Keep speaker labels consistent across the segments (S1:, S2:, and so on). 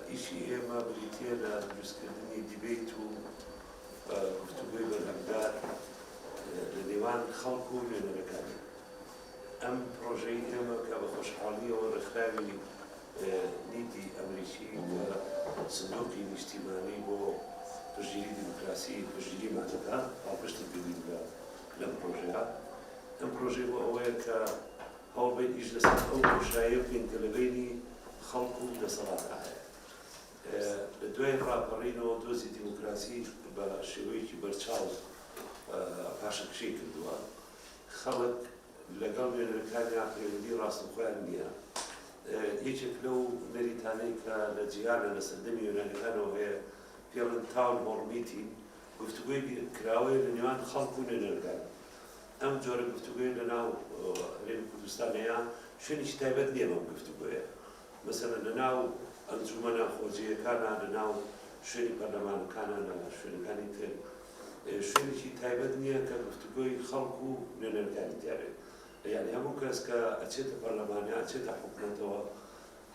S1: ئیشی ئێمە بریتیە لە دروستکردنی دیبەیت و گفتوگۆی بەرهەمدار لە نێوان خەڵک و نوێنەرەکانی ئەم پرۆژەی ئێمە کە بە خۆشحاڵیەوە ڕێکخراوی نیتی ئەمریکی لە سندوقی نیشتیمانی بۆ پشتگیری دیموکراسی پشتگیریمان دەدا، پاڵپشتی پێویست بە لەم پرۆژەیە. ئەم پرۆژەی بۆ ئەوەیە کە هەوڵ بەین ئیش لەسەر ئەو بۆشاییە بکەین کە لە بەینی خەڵک و دەسەڵاتدا هەیە. لە دوای ڕاپەڕینەوە دۆزی دیموکراسی بە شێوەیەکی بەرچاو پاشەکشەی کردووە. خەڵک. لەگەڵ نوێنەرەکانیان پەیوەندی ڕاستەوخۆیان نییە. یەکێک لەو نەریتانەی کە لە جیهاندا لە سەردەمی یۆنانییەکانەوە هەیە، پێڵێن تاون هۆڵ میتین، گفتوگۆی بیرکراوەیە لە نێوان خەڵک و نوێنەرەکان. ئەم جۆرە گفتوگۆیە لەناو هەرێمی کوردستان هەیە، شوێنێکی تایبەت نییە بەم گفتوگۆیە. مەسەلەن لە ناو ئەنجومەنە خۆجێیەکانا، لە ناو شوێنی پەرلەمانەکانا، لە شوێنەکانی تر شوێنێکی تایبەت نییە کە گفتوگۆی خەڵک و نوێنەرەکانی تیا بێت، یانی هەموو کەس کە ئەچێتە پەرلەمان یا ئەچێتە حکومەتەوە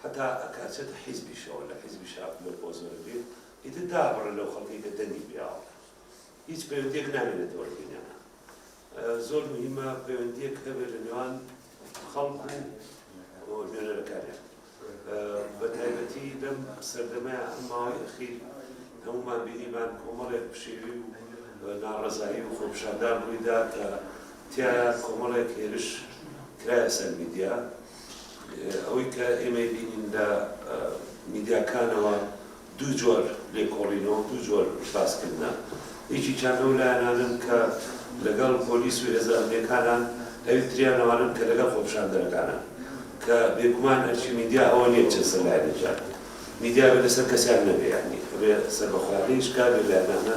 S1: حەتا ئەکە ئەچێتە حیزبیشەوە لە حیزبیشا لەو پۆزە دەبێت ئیتر دابڕێ لەو خەڵکەی کە دەنگی پێاوە هیچ پەیوەندیەک نامێنێتەوە لە بینیانا زۆر مهیمە پەیوەندیەک هەبێت لە نێوان خەڵک و نوێنەرەکانیان بە تایبەتی لەم سەردەمەیە ئەم ماوەی ئەخیر هەمومان بینیمان کۆمەڵێک پشێوی و ناڕەزایی و خۆپشاندان ڕوویدا کە تایە کۆمەڵێک هێرش کرایە سەر میدیا ئەوەی کە ئێمەی بینین لە میدیاکانەوە دوو جۆر لێکۆڵینەوە و دوو جۆر باسکردنە، یەکێکیان ئەو لایەنانەن کە لەگەڵ پۆلیس و هێزە ئەمنییەکانان ئەویتریان ئەوانەن کە لەگەڵ خۆپیشاندەرەکانن کە بێگومان ئەرکی میدیا ئەوە نییە بچێت سەر لایەنێکیان، میدیا بێتە سەر کەسیان نەبێ یانی ئەبێ سەربەخۆیانە هیچ کام لەو لایەنانە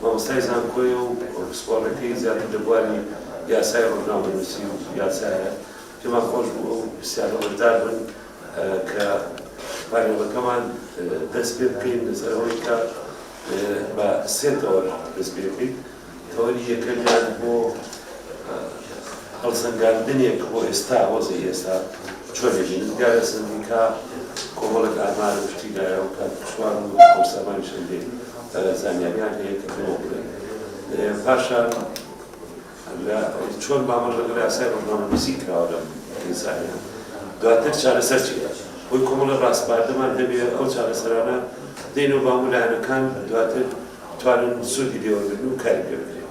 S1: مامۆستای زانکۆیە و پسپۆڕێتی زیاتر لە بواری یاسای ڕۆژنامەنووسی و یاسایە، پێمان خۆش بوو ئەو پرسیارە بەشدار بن کە پانێڵەکەمان دەست پێ بکەین لەسەر ئەوەی کە بە سێ تەوەر دەست پێ بکەین، تەوەری یەکەمیان بۆ هەڵسەنگاندنێک بۆ ئێستا وەزعی ئێستا چۆن دەبینن، جگە لە سەندیکا کۆمەڵێک ئامار و شتی دایە و کاک سوار و کاک سامانیشم دێ. زانیاریان هەیە کە بۆ بڵێن پاشان لە چۆن مامەڵە لەگەڵ یاسای ڕۆژنامەنووسی کراوە لەم کەیسانە دواتر چارەسەر چی دەبێت بۆی کۆمەڵە ڕاستپاردەمان هەبێت ئەو چارەسەرانە دێنەوە بە هەموو لایەنەکان دواتر بتوانن سوودی لێوەربگرن و کاری پێ بکرێت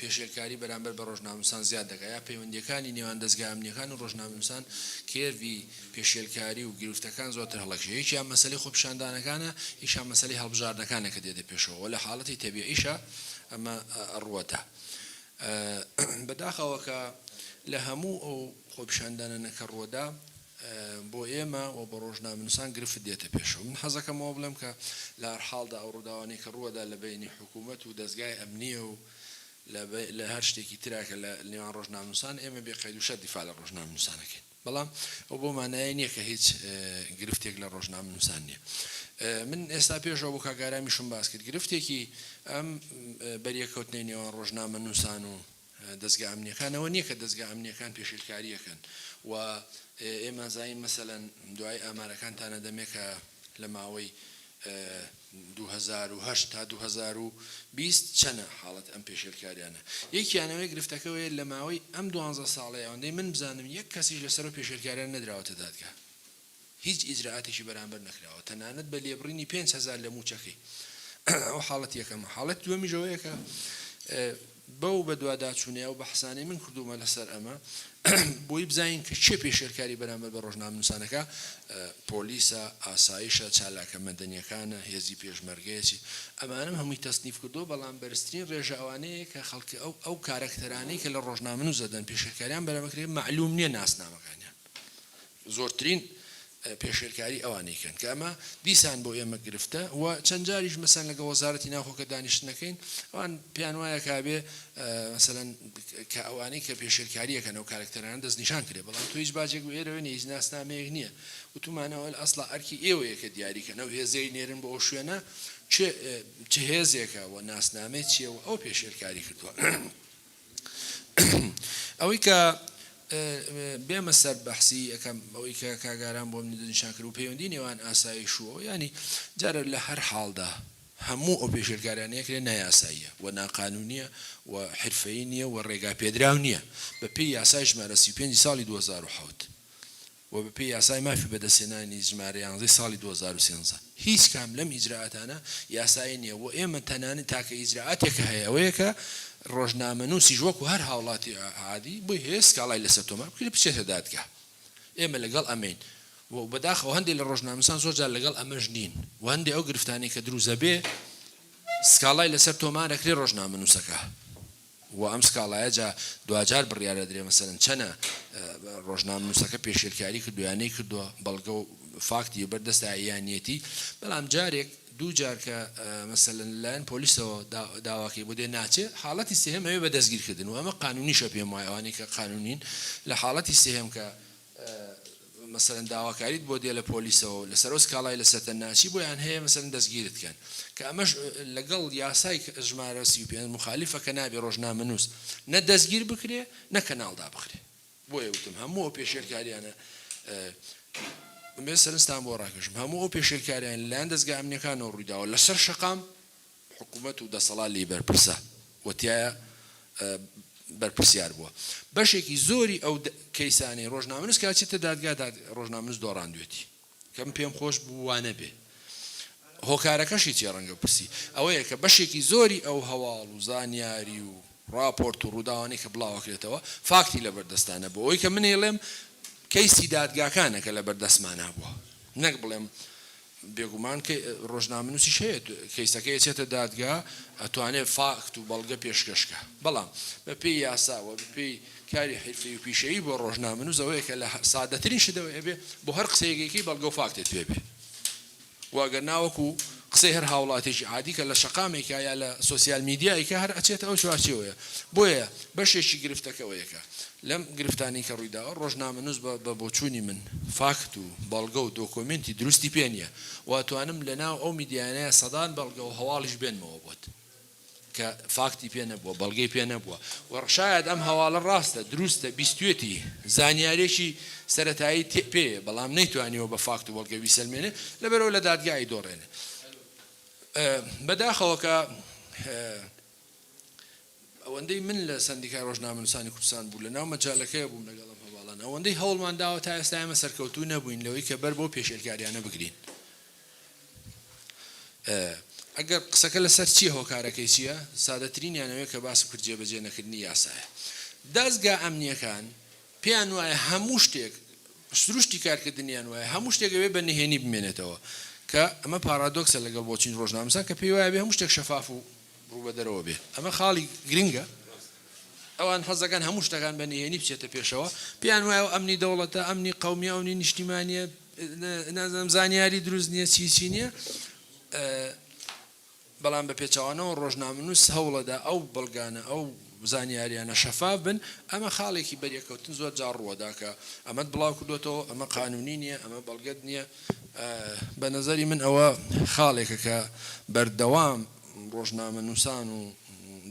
S2: پێشێلکاری بەرامبەر بە ڕۆژنامەنووسان زیاد دەکات یا پەیوەندییەکانی نێوان دەزگا ئەمنییەکان و ڕۆژنامەنووسان کێرڤی پێشێلکاری و گرفتەکان زۆرتر هەڵەکشێ یەکیان مەسەلەی خۆپیشاندانەکانە یەکیان مەسەلەی هەڵبژاردنەکانە کە دێتە پێشەوە وە لە حاڵەتی تەبیعیشا ئەمە ڕووەتە بەداخەوە کە لە هەموو ئەو خۆپیشاندانانە کە ڕووەدا بۆ ئێمە و بۆ ڕۆژنامەنووسان گرفت دێتە پێشەوە. من حەزەکەم ئەوە بڵێم کە لە هەر حاڵدا ئەو ڕووداوانەی کە ڕووەدا لە بەینی حکوومەت و دەزگای ئەمنییە و لە هەر شتێکی ترا کە لە نێوان ڕۆژنامەنووسان، ئێمە بێ قەید و شەرت دیفاع لە ڕۆژنامەنووسان ئەکەین. بەڵام ئەوە بەو مانایە نییە کە هیچ گرفتێک لە ڕۆژنامەنووسان نییە. من ئێستا پێش ئەوە بۆ کاک ئارامیشم باس کرد، گرفتێکی ئەم بەریەککەوتنەی نێوان ڕۆژنامەنووسان و دەزگا ئەمنیەکانەوە نیە کە دەزگا ئەمنیەکان پێشلکاریەکەن و ئێمە زین مەسەلەن دوای ئامارەکان تانە دەمێکە لە ماوەی 2010 تا 2020 چەنە حاڵەت ئەم پێشێلکاریانە یەکیانەوەی گرفتەکەوەیە لە ماوەی ئەم دوانزە ساڵەیەوەندەی من بزانم یەک کەسیش لەسەر پێشێلکاریان نەدراوەتە دادگا هیچ ئیجرائاتێکی بەرامبەر نەکراوە تەنانەت بە لێبڕینی پێنج هەزار لە مووچەکەی ئەوە حاڵەتی یەکەمە حاڵەتی دووەمیش ئەوەیە کە بەو بەدواداچوونەیە و بەحسانەی من کردوومە لەسەر ئەمە بۆی بزانین کە چێ پێشێلکاری بەرامبەر بە ڕۆژنامنووسانەکە پۆلیسە ئاسایشە چالاکە مەدەنیەکانە هێزی پێشمەرگەیەچی ئەمانم هەمووی تەسنیف کردو بەڵام بەرزترین ڕێژە ئەوانەیە کە خەڵکی ئەو ئەو کارەکتەرانەی کە لە ڕۆژنامن و زەدەن پێشێلکاریان بەرەمەکرێ معلوم نییە ناسنامەکانیان زۆرترین پێشێلکاری ئەوانەی کەن کە ئەمە دیسان بۆ ئێمە گرفتە و چەند جاریش مەسەن لەگە وەزارەتی ناوخۆ کە دانیشتنەکەین ئەوان پێیان وایە کابێ مەسەن کە ئەوانەی کە پێشێلکاریەکەن و کارکتەران دەست نیشان کرێ بەڵام تو هیچ باجێک و ئێرەوە نیە هیچ ناسنامەیەک نییە وتومانەوە ئەسڵا ئەرکی ئێوەیە کە دیاریکەن ئەو هێزەی نێرن بۆ ئەو شوێنە چ هێزێکە و ناسنامەی چیە و ئەو پێشێلکاری کردووە ئەوەی کە بێمە سەر بەحسی یەکەم ئەوەی کە کاگاران بۆ منی دنیشان کرد و پەیوەندی نێوان ئاسایش و ینی جارە لە هەر حاڵدا هەموو ئەو پێشێلکارانەیە کرێ نایاساییە و ناقانونیە و حرفەی نییە و ڕێگا پێدراو نییە بە پێی یاسای ژمارە 35 ساڵی 2007. و بەپێی یاسای مافی بەدەستهێنانی ژمارە یانزە ی ساڵی دوو هەزار و سێزدە هیچ کام لەم ئیجرائاتانە یاسایی نییە و ئێمە تەنانەت تاکە ئیجرائاتێک کە هەیە ئەوەیە کە ڕۆژنامەنووسیش وەکو هەر هاوڵاتی عادی بۆی هەیە سکاڵای لەسەر تۆمار بکرێت بچێتە دادگا ئێمە لەگەڵ ئەمەین و بەداخەوە هەندێک لە ڕۆژنامەنووسان زۆر جار لەگەڵ ئەمەش نین و هەندێک ئەو گرفتانەی کە دروست دەبێت سکاڵای لەسەر تۆمار ئەکرێت ڕۆژنامەنووسەکە وە ئەم سکاڵایە جا دواجار بڕیار ئەدرێ مەسەلەن چەنە ڕۆژنامنوسەکە پێشێلکاری کردوە یا نەیکردوە بەڵگە و فاکتی بەر دەستە یا نیەتی بەڵام جارێک دوو جار کە مەسەلەن لە لایەن پۆلیسەوە داواکەی بۆ دێ ناچێ حاڵەتی سێهەم ئەوێ بە دەستگیرکردن و ئەمە قانونیشە پێم وایە ئەوانەی کە قانونین لە حاڵەتی سێهەم کە مەسەلەن داواکاریت بۆ دێ لە پۆلیسەوە و لەسەرو سکاڵای لە سەتەناچی بۆیان هەیە مەسەلەن دەستگیرت کەن کە ئەمەش لەگەڵ یاسای ژمارە سی و پێنج موخالیفە کە نابێ ڕۆژنامەنوس نە دەستگیر بکرێ نە کەناڵ دابخرێ بۆیە وتم هەموو ئەو پێشێلکاریانە مێ سەرنجتان بۆ ڕاکێشم هەموو ئەو پێشێلکاریان لەلایەن دەزگا ئەمنیەکانەوە ڕوویداوە لەسەر شەقام حکومەت و دەسەڵات لێی بەرپرسە و تیایا بەرپرسیار بووە. بەشێکی زۆری ئەو کەیسانەی رۆژنامەنووس کە ئەچێتە دادگا رۆژنامەنووس دۆڕاندوێتی. کە من پێم خۆش بوو وا نەبێ. هۆکارەکەشی چیە رەنگە پرسی ئەوەیە کە بەشێکی زۆری ئەو هەواڵ و زانیاری و راپۆرت و رووداوانەی کە بڵاوەکرێتەوە فاکتی لە بەردەستانە بۆ ئەوەی کە من ئەیڵێم کەیسی دادگاکانە کە لە بەردەستمانا بووە نەک بڵێم بێگومان کە ڕۆژنامەنووسیش هەیە کەیسەکەی ئەچێتە دادگا ئەتوانێت فاکت و بەڵگە پێشکەش کا بەڵام بەپێی یاسا وە بەپێی کاری حرفەی و پیشەیی بۆ ڕۆژنامەنووس ئەوەیە کە لە سادەترین شتەوە ئەبێ بۆ هەر قسەیەکێکی بەڵگە و فاکتت پێ بێ واگەر ناوەکو قسەی هەر هاوڵاتێکی عادی کە لە شەقامێکا یا لە سوسیال میدیایکە هەر ئەچێت ئەو چوارچێوەیە بۆیە بەشێکی گرفتەکەەوەیەکە لەم گرفتانەی کە ڕوویداوە، ڕۆژنامەنووس بە بۆچوونی من فاکت و بەڵگە و دۆکۆمێنتی دروستی پێ نییە و ئەتوانم لە ناو ئەو میدیایانە سەدان بەڵگە و هەواڵیش بێنمەوە بۆت کە فاکتی پێ نەبووە، بەڵگەی پێ نەبووە و شایەد ئەم هەواڵە ڕاستە، دروستە، بیستوویەتی، زانیارییەکی سەرەتایی تێ پێ یە، بەڵام نەیتوانیوە بە فاکت و بەڵگە بیسەلمێنێ، لەبەرئەوە لە دادگا ئەیدۆڕێنێ. بەداخەوە کە ئەوەندەی من لە سەندیکای ڕۆژنامەنووسانی کوردستان بوو لەناو مەجالەکەیە بووم لەگەڵ ئەم هەواڵانە ئەوەندەی هەوڵمان داوە تا ئێستا ئێمە سەرکەوتوو نەبووین لەوەی کە بەر بەو پێشێلکاریانە بگرین ئەگەر قسەکە لەسەر چییە هۆکارەکەی چییە سادەترینیان ئەوەیە کە باسم کرد جێبەجێ نەکردنی یاسایە دازگا ئەمنیەکان پێیان وایە هەموو شتێک سروشتی کارکردنیان وایە هەموو شتێکەوێ بە نهێنی بمێنێتەوە کە ئەمە پارادۆکسە لەگەڵ بۆچین ڕۆژنامەسان کە پێی وایە بێ هەموو شتێک شەفاف و ڕوو بە دەرەوە بێت ئەمە خاڵی گرنگە، ئەوان حەز دەکەن هەموو شتەکان بە نهێنی بچێتە پێشەوە، پێیان وایە ئەو ئەمنی دەوڵەتە، ئەمنی قەومیە، ئەونی نیشتیمانیە، نازانم زانیاری دروست نیە چی چی نیە، بەڵام بە پێچەوانەوە ڕۆژنامەنووس هەوڵەدا ئەو بەڵگانە ئەو زانیاریانە شەفاف بن، ئەمە خاڵێکی بەریەککەوتن زۆر جار ڕووەدا کە ئەمەت بڵاو کردۆتەوە، ئەمە قانونی نیە، ئەمە بەڵگەت نیە، بە نەزەری من ئەوە خاڵێکە کە بەردەوام ڕۆژنامەنووسان و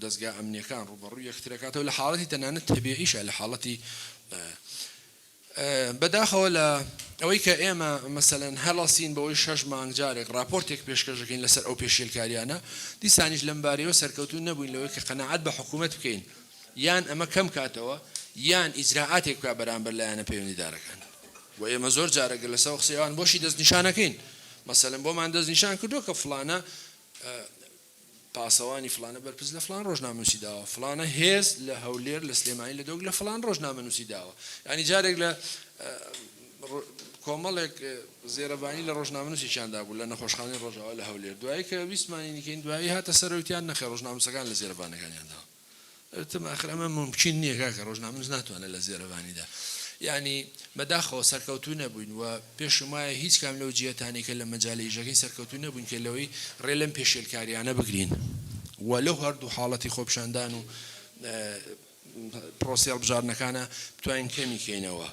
S2: دەزگا ئەمنیەکان ڕووبەڕووی یەکترەکاتەوە لە حاڵەتی تەنانەت تەبیعیشا لە حاڵەتی بەداخەوە لە ئەوەی کە ئێمە مەسەلەن هەڵەسین بەوەی شەش مانگ جارێک ڕاپۆرتێک پێشکەش دەکەین لەسەر ئەو پێشێلکاریانە، دیسانیش لەم بارەیەوە سەرکەوتوو نەبووین لەوەی کە قەناعەت بە حکوومەت بکەین یان ئەمە کەم کاتەوە یان ئیجرائاتێک بکات بەرامبەر لایەنە پەیوەندیدارەکان و ئێمە زۆر جارە گەر لەسەر قسەی ئەوان بۆشی دەستنیشانەکەین مەسەلەن بۆمان دەستنیشان کردووە کە فڵانە پاسەوانی فڵانە بەرپرس لە فڵان ڕۆژنامەنووسی داوە، فڵانە هێز لە هەولێر، لە سلێمانی، لە دۆک لە فڵان ڕۆژنامەنووسی داوە. یانی جارێک لە کۆمەڵێک زێرەڤانی لە ڕۆژنامەنووسێکیان دابوو لە نەخۆشخانەی ڕۆژاوا لە هەولێر، دوایی کە ویستمانی نیکەین، دوایی هاتە سەرەوەی تیان نەخێر ڕۆژنامەنووسەکان لە زێرەڤانەکانیان داوە. وتم ئاخر ئەمە مومکین نیە کاکە ڕۆژنامەنووس ناتوانێت لە زێرەڤانیدا یانی بەداخەوە سەرکەوتوو نەبووین و پێشم وایە هیچ کام لەو جیەتانەی کە لە مەجالی ئیشەکەین سەرکەوتوو نەبووین کە لەوەی ڕێ لەم پێشێلکاریانە بگرین و لەو هەردوو حاڵەتی خۆپیشاندان و پرۆسی هەڵبژاردنەکانە بتوانین کەمی کەینەوە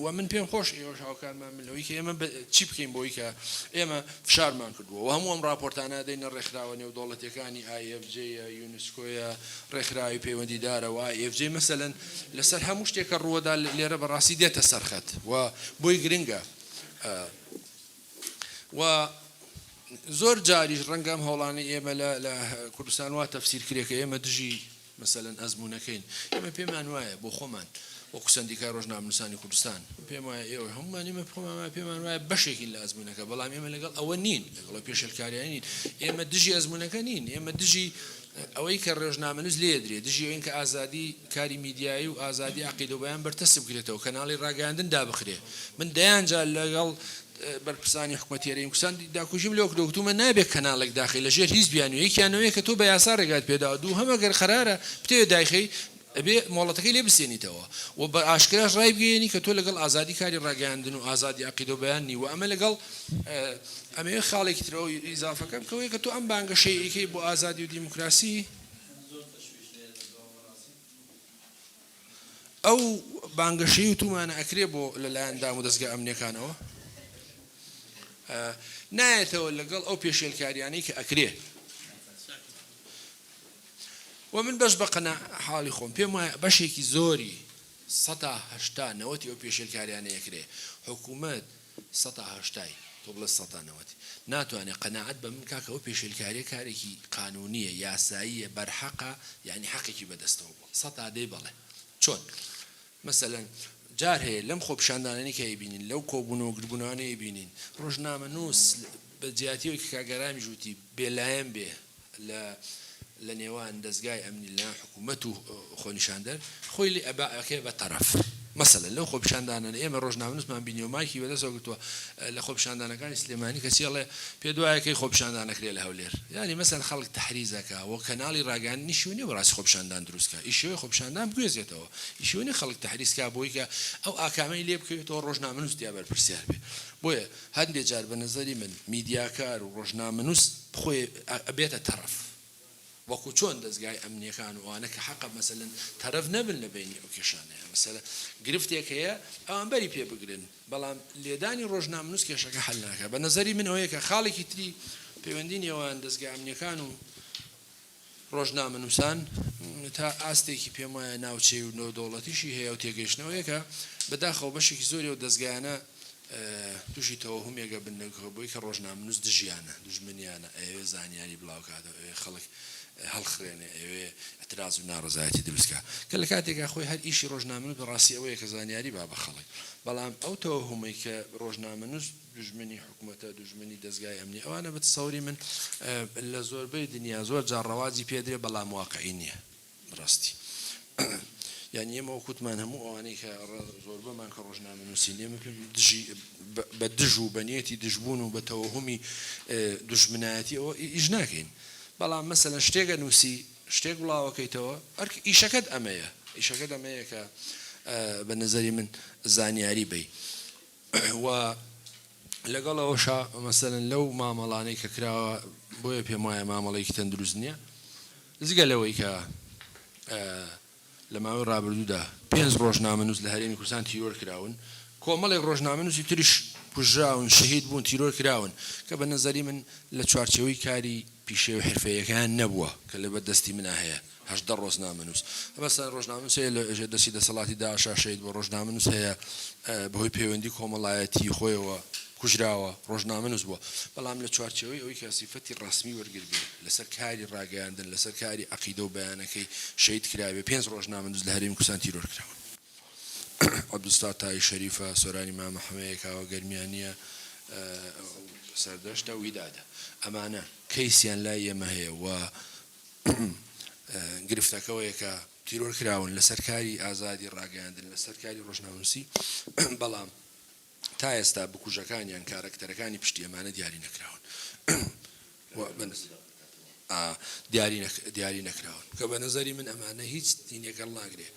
S2: و من پێم خۆش ئێوەش هاوکارمان من لەوەی کە ئێمە چی بکەین بۆی کە ئێمە فشارمان کردووە و هەموو ئەم راپۆرتانە دەینە ڕێکخراوە نێودەوڵەتیەکانی ئایFJ نسکۆیە ڕێکخراوی پەیوەندیدارە و IFJ مەسەلەن لەسەر هەموو شتێک کە ڕووەدا لێرە بەڕاستی دێتە سەر خەت و بۆی گرنگە و زۆر جاریش ڕەنگە ئەم هەوڵانەی ئێمە لە کوردستان وا تەفسیر کرێکە ئێمە دژی مەسەلەن ئەزمونونەکەین ئێمە پێمان وایە بۆ خۆمان وەکو سەندیکای ڕۆژنامەنووسانی کوردستان پێم وایە ئێوە هەموومان ئێمە خۆمان وایە پێمان وایە بەشێکین لە ئەزموونەکە بەڵام ئێمە لەگەڵ ئەوە نین لەگەڵ پێشێلکاریانی نین ئێمە دژی ئەزموونەکە نین ئێمە دژی ئەوەی کە ڕێژنامەنووس لێ درێ دژی ئەوین کە ئازادی کاری میدیایی و ئازادی عقیدەبیان بەرتەسک بکرێتەوە کەناڵی ڕاگەاندن دابخرێ من دەیانجا لەگەڵ بەرپرسانی حکوومەتێرەی کوردستان داکوژیم لەو دەوتومە نابێت کەناڵێک داخی لەژێر هیچ بیانویەکیانەوەی کە تۆ بە یاسا ڕێگات پێدا دوو هەمەگەر قرارە پتێ دایخی ئەبێ مۆڵەتەکەی لێ بسێنیتەوە و بە ئاشکراش ڕایبگەیەنی کە تۆ لەگەڵ ئازادی کاری ڕاگەیاندن و ئازادی عەقیدەو بەیان نی و ئەمە لەگەڵ ئەمەوێ خاڵێکی تر ئەوەی ئیزافە کەم کەوەیە کە تۆ ئەم بانگەشەی ئەیکەی بۆ ئازادی و دیموکراسی ئەو بانگەشەی وتومانە ئەکرێ بۆ لەلایەن دام و دەزگا ئەمنیەکانەوە نایەتەوە لەگەڵ ئەو پێشێلکاریانەی کە ئەکرێ. و من بەس بە قەناع حاڵی خۆم پێم وایە بەشێکی زۆری سەتا هەشتا نەوەتی ئەو پێشێلکاریانە یەکرێ حکوومەت سەتا هەشتای تۆ بڵێ سەتا نەوەت ناتوانێ قەناعەت بە من کا کە ئەو پێشێلکاریە کارێکی قانونیە یاساییە بەرحەقە یانی حەقێکی بەدەستەوە بووە سەتا دەی بەڵێ چۆن مەسەلەن جار هەیە لەم خۆپیشاندانانەی کە ئەیبینین، لەو کۆبوونەوە گردبوونەوانەی ئەیبینین، ڕۆژنامەنووس بە جیاتی ئەوەی کە کاک ئارامیش وتی بێلایەن بێ لە لە نێوان دەزگای ئەمنی لە لایەن حکوومەت و خۆنیشاندەر، خۆی لێ ئەبا ئەکەوێ بە تەرەف. مەسەلەن لەو خۆپیشاندانانە ئێمە ڕۆژنامەنووسمان بینیوە مایکی بە دەستەوە گرتووە لە خۆپیشاندانەکانی سلێمانی کەچی ئەڵێ پێت وایە کەی خۆپیشاندان ئەکرێ لە هەولێر؟ یانی مەسەلەن خەڵک تەحریز ئەکا و کەناڵی ڕاگەیاندنی شوێنی بۆ ڕاستی خۆپیشاندان دروست کا، ئی شێوەی خۆپیشاندان بگوێزێتەوە. ئیشی ئەوە نیە خەڵک تەحریز کا بۆی کە ئەو ئاکامەی لێ بکەوێتەوە ڕۆژنامەنووس تیا بەرپرسیار بێ بۆیە هەندێ جار بە نەزەری من میدیاکار و ڕۆژنامەنووس خۆی ئەبێتە تەڕەف وەکو چۆن دەزگای ئەمنیەکان و ئەوانە کە حەقە مەسەلەن تەرەف نەبن لە بەینی ئەو کێشانەیە مەسەلە گرفتێک هەیە ئەوان بەری پێ بگرن بەڵام لێدانی ڕۆژنامەنووس کێشەکە حەل ناکا بە نەزەری من ئەوەیە کە خاڵێکی تری پەیوەندی نێوان دەزگا ئەمنیەکان و ڕۆژنامەنووسان تا ئاستێکی پێم وایە ناوچەی و نێودەوڵەتیشی هەیە و تێگەیشتنەوەیەکە بەداخەوە بەشێکی زۆری و دەستگایانە تووشی تەوەهمێگە بنەگە بۆی کە ڕۆژنامنووس دژیانە دژمنیانە ئەوێ زانیاری بڵاوکاتەوە ئەوێ خەڵک هەڵخرێنێ ئەوێ ئەتراز و ناڕزایەتی دروستکە کە لە کاتێکا خۆی هەر ئیشی ڕۆژنامنووس بەڕاستی ئەوەیە کە زانیاری با بە خەڵک بەڵام ئەو تەوەهمەی کە ڕۆژنامەنووس دوژمنی حکومەتە دوژمنی دەزگای ئەمنی ئەوانە بتسەوری من لە زۆربەی دنیا زۆر جار ڕەواجی پێ درێ بەڵام واقعی نیە بڕاستی یعنی ئێمە وەکوتمان هەموو ئەوانەی کە زۆربەمان کە ڕۆژنامە نووسین ئێمە دژی بە دژ و بەنیەتی دژبوون و بە تەوەهمی دوژمنایەتی ئەوە ئیش ناکەین بەڵام مەسەلەن شتێکە نووسی شتێک بڵاوەکەیتەوە ئەرک ئیشەکەت ئەمەیە ئیشەکەت ئەمەیە کە بە نظری من زانیاری بی و لەگەڵ ئەوەشا مەسەلەن لەو مامەڵانەی کە کراوە بۆیە پێم وایە مامەڵەیەکی تەندروست نییە جگە لەوەی کە لە ماوەی ڕابردوودا پێنج ڕۆژنامەنووس لە هەرێمی کوردستان تیرۆر کراون کۆمەڵێک ڕۆژنامەنووسی تریش کوژراون شەهید بوون تیرۆر کراون کە بە نەزەری من لە چوارچێوەی کاری پیشەی و حرفەیەکەیان نەبووە کە لە بەردەستی منا هەیە هەژدە ڕۆزنامەنووس مەسەلەن ڕۆژنامەنووس هەیە لە ژێر دەستی دەسەڵاتی داعشا شەهید بووە، ڕۆژنامەنووس هەیە بەهۆی پەیوەندی کۆمەڵایەتیی خۆیەوە کوژراوە، ڕۆژنامەنووس بووە. بەڵام لە چوارچێوەی ئەوەی کە سیفەتی ڕەسمی وەرگر بێ، لەسەر کاری ڕاگەیاندن، لەسەر کاری عەقیدە و بیانەکەی شەهید کرابێ، پێنج ڕۆژنامەنووس لە هەرێمی کوردستان تیرۆر کراون. عەبدولستار تای شەریفە، سۆرانی مامە حەمەیە، کاوە گەرمیانییە، سەردەشتە، ویدادە. ئەمانە کەیسیان لای ئێمە هەیە و گرفتەکە ئەوەیە کە تیرۆر کراون لەسەر کاری ئازادی ڕاگەیاندن لەسەر کاری ڕۆژنامەنووسی بەڵام تا ئێستا بکوژەکانیان کارەکتەرەکانی پشتی ئەمانە دیاری نەکراون دیاری دیاری نەکراون کە بە نظری من ئەمانە هیچ دینێکەڵ ناگرێ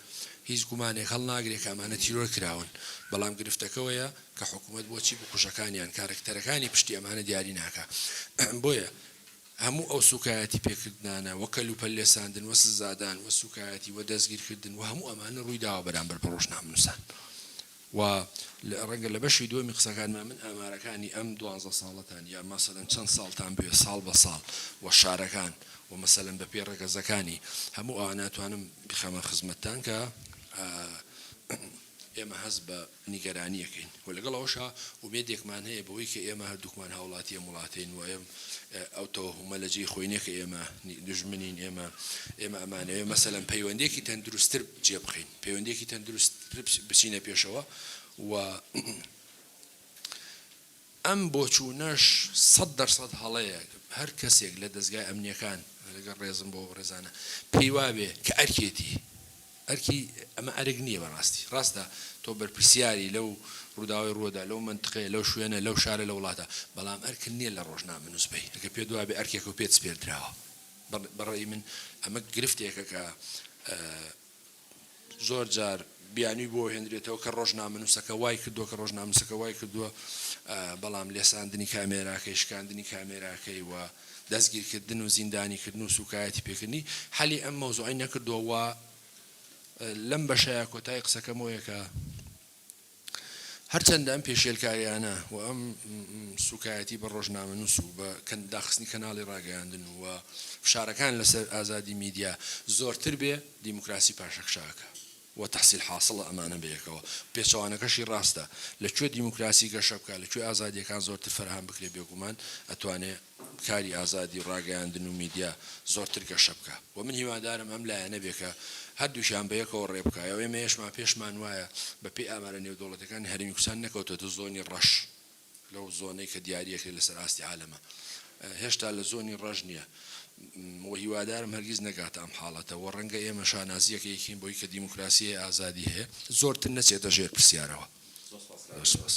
S2: هیچ گومانێک هەڵ ناگرێت کامانە تیرۆر کراون بەڵام گرفتەکەەوەیە کە حکوومەت بۆچی بکوژەکانیان کارکتەرەکانی پشتی ئەمانە دیاری ناکە بۆیە هەموو ئەو سوکایەتی پێکردنانە وە کەل و پەلێ ساندن وە سزادان وە سوکایەتی وە دەستگیر کردن وە هەموو ئەمانە ڕووی داوە بەرامبەر بە ڕۆژنامەنووسان وە ڕەنگە لە بەشی دووەمی قسەکانما من ئامارەکانی ئەم دوانزە ساڵەتان یا مەسەلەن چەند ساڵتان بوێ ساڵ بە ساڵ وە شارەکان وە مەسەلەن بە پێ ڕەگەزەکانی هەموو ئەوانە توانم بخەمە خزمەتتان کە ئێمە هەست بە نیگەرانییەکەین و لەگەڵ ئەوەشا ئومێدێکمان هەیە بەوەی کە ئێمە هەردووکمان هاوڵاتی ئەم وڵاتەین و ئەو تەوەهومە لە جێی خۆی نیە کە ئێمە دوژمنین، ئێمە ئێمە ئەمانەوێ مەسەلەن پەیوەندییەکی تەندروستتر جێ بخەین، پەیوەندییەکی تەندروستتر بچینە پێشەوە و ئەم بۆچوونەش سەد دەر سەد هەڵەیە، هەر کەسێک لە دەزگا ئەمنییەکان، لەگەڵ ڕێزم بۆ ئەو ڕێزانە، پێی وابێ کە ئەرکێتی، ئەرکی، ئەمە ئەرک نییە بە ڕاستی، ڕاستە تۆ بەرپرسیاری لەو ڕووداوەی ڕووەدا، لەو مەنتقەیە، لەو شوێنە، لەو شارە، لە وڵاتە، بەڵام ئەرکت نییە لە ڕۆژنامەنووس بی، ئەگەر پێت وابێ ئەرکێکە و پێت سپێردراوە، بە ڕەئی من ئەمە گرفتێکە کە، زۆرجار بیانوی بۆ هێنرێتەوە کە ڕۆژنامەنوسەکە وای کردوە کە ڕۆژنامەنوسەکە وای کردوە بەڵام لێساندنی کامێراکەی شکاندنی کامێراکەی و دەستگیرکردن و زیندانی کردن و سوکایەتی پێکردنی حەلی ئەم مەوزوعەی نەکردوە و لەم بەشەیا کۆتای قسەکەمەوەیە کە هەرچەندە ئەم پێشێلکارییانە و ئەم سووکایەتی بە ڕۆژنامەنووس و بە داخستنی کەناڵی ڕاگەیاندن و فشارەکان لەسەر ئازادی میدیا زۆرتر بێ، دیموکراسی پاشەکشاکە و تەحسیل حاسڵە ئەمانە بەیەکەوە. پێچەوانەکەشی ڕاستە، لە کوێ دیموکراسی گەشە بکا، لە کوێ ئازادییەکان زۆرتر فەرهەم بکرێ بێگومان ئەتوانێ. کاری ئازادی ڕاگەیاندن و میدیا زۆرتر گەشە بکا و من هیوادارم ئەم لایەنە بێ کە هەردووکیان بە یەکەوە ڕێ بکا و ئێمەیشمان پێشمان وایە بە پێی ئامارە نێودەوڵەتیەکان هەرێمی کوردستان نەکەوتۆتە زۆنی ڕەش لەو زۆنەی کە دیاری ئەکرێ لە سەر ئاستی عالەمە هێشتا لە زۆنی ڕەش نیە و هیوادارم هەرگیز نەگاتە ئەم حاڵەتە و ڕەنگە ئێمە شانازیەکێکین بۆی کە دیموکراسی هەیە ئازادی هەیە زۆرتر نەچێتە ژێر پرسیارەوە. زۆر سوپاس.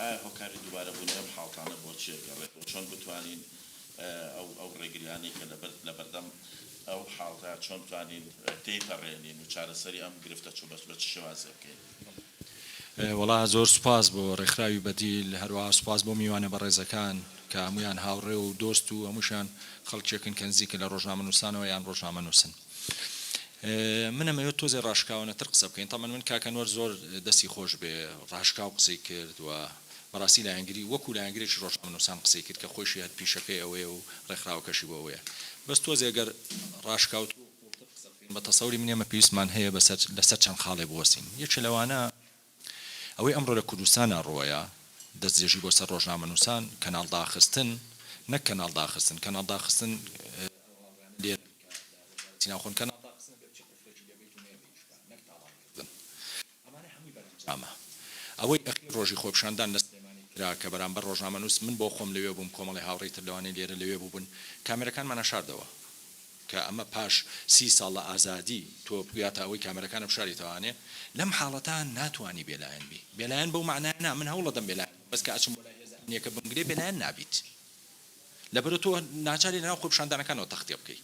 S3: ئایا هۆکاری دووبارە بوونی ئەم حاڵتانە بۆ چیە گەڕێت و چۆن بتوانین ئەو ئەو ڕێگریانەی کە لەبەر لەبەردەم ئەو حاڵتە چۆن بتوانین تێی پەڕێنین و چارەسەری ئەم گرفتە چ بەچ بەچ شێوازێ بکەین؟
S4: وەڵا زۆر سوپاس بۆ ڕێکخراوی بەدیل هەروەها سوپاس بۆ میوانە بەڕێزەکان کە هەموویان هاوڕێ و دۆست و هەمووشیان خەڵکێکن کە نزیکن لە ڕۆژنامەنووسانەوە یان ڕۆژنامەنووسن. من ئەمەوێت تۆزێ ڕاشکاوانە تر قسە بکەین تەبعەن من کاک ئەنوەر زۆر دەستی خۆش بێ ڕاشکاو قسەی کرد و بەڕاستی لایەنگری وەکو لایەنگرێکی ڕۆژنامەنوسان قسەی کرد کە خۆیشی هەر پیشەکەی ئەوەیە و ڕێکخراوەکەشی بۆ ئەوەیە بەس تۆزێ گەر ڕاشکاوتر و قوڵتر قسە بکەین بە تەسەوری من ئێمە پێویستمان هەیە بەسەر لەسەر چەند خاڵێ بوەستین یەکێ لەوانە ئەوەی ئەمڕۆ لە کوردستانا ڕوەیە، دەستدرێژی بۆ سەر ڕۆژنامەنووسان، کەناڵ داخستن، نەک کەناڵ داخستن، کەناڵ داخستن، ئەوەی ئەخیر ڕۆژی خۆپیشاندان لە سلێمانی کرا کە بەرامبەر ڕۆژنامەنووس، من بۆ خۆم لەوێ بووم، کۆمەڵی هاوڕێی تر لەوانەی لێرە لەوێ بووبن، کامێرەکانمانە شاردەوە. کە ئەمە پاش سی ساڵ لە ئازادی تۆ بگاتە ئەوەی کامێرەکان بشاری تاوانێ لەم حاڵەتە ناتوانی بێلایەن بی بێلایەن بەو مەعنایە نا من هەوڵەدەم بێلایەن بم بەس کە ئەچم بۆ لای هێزە ئەمنیەکە بمگرێ بێلایەن نابیت لەبەرو تۆ ناچاری لەناو خۆپیشاندانەکانەوە تەختێ بکەی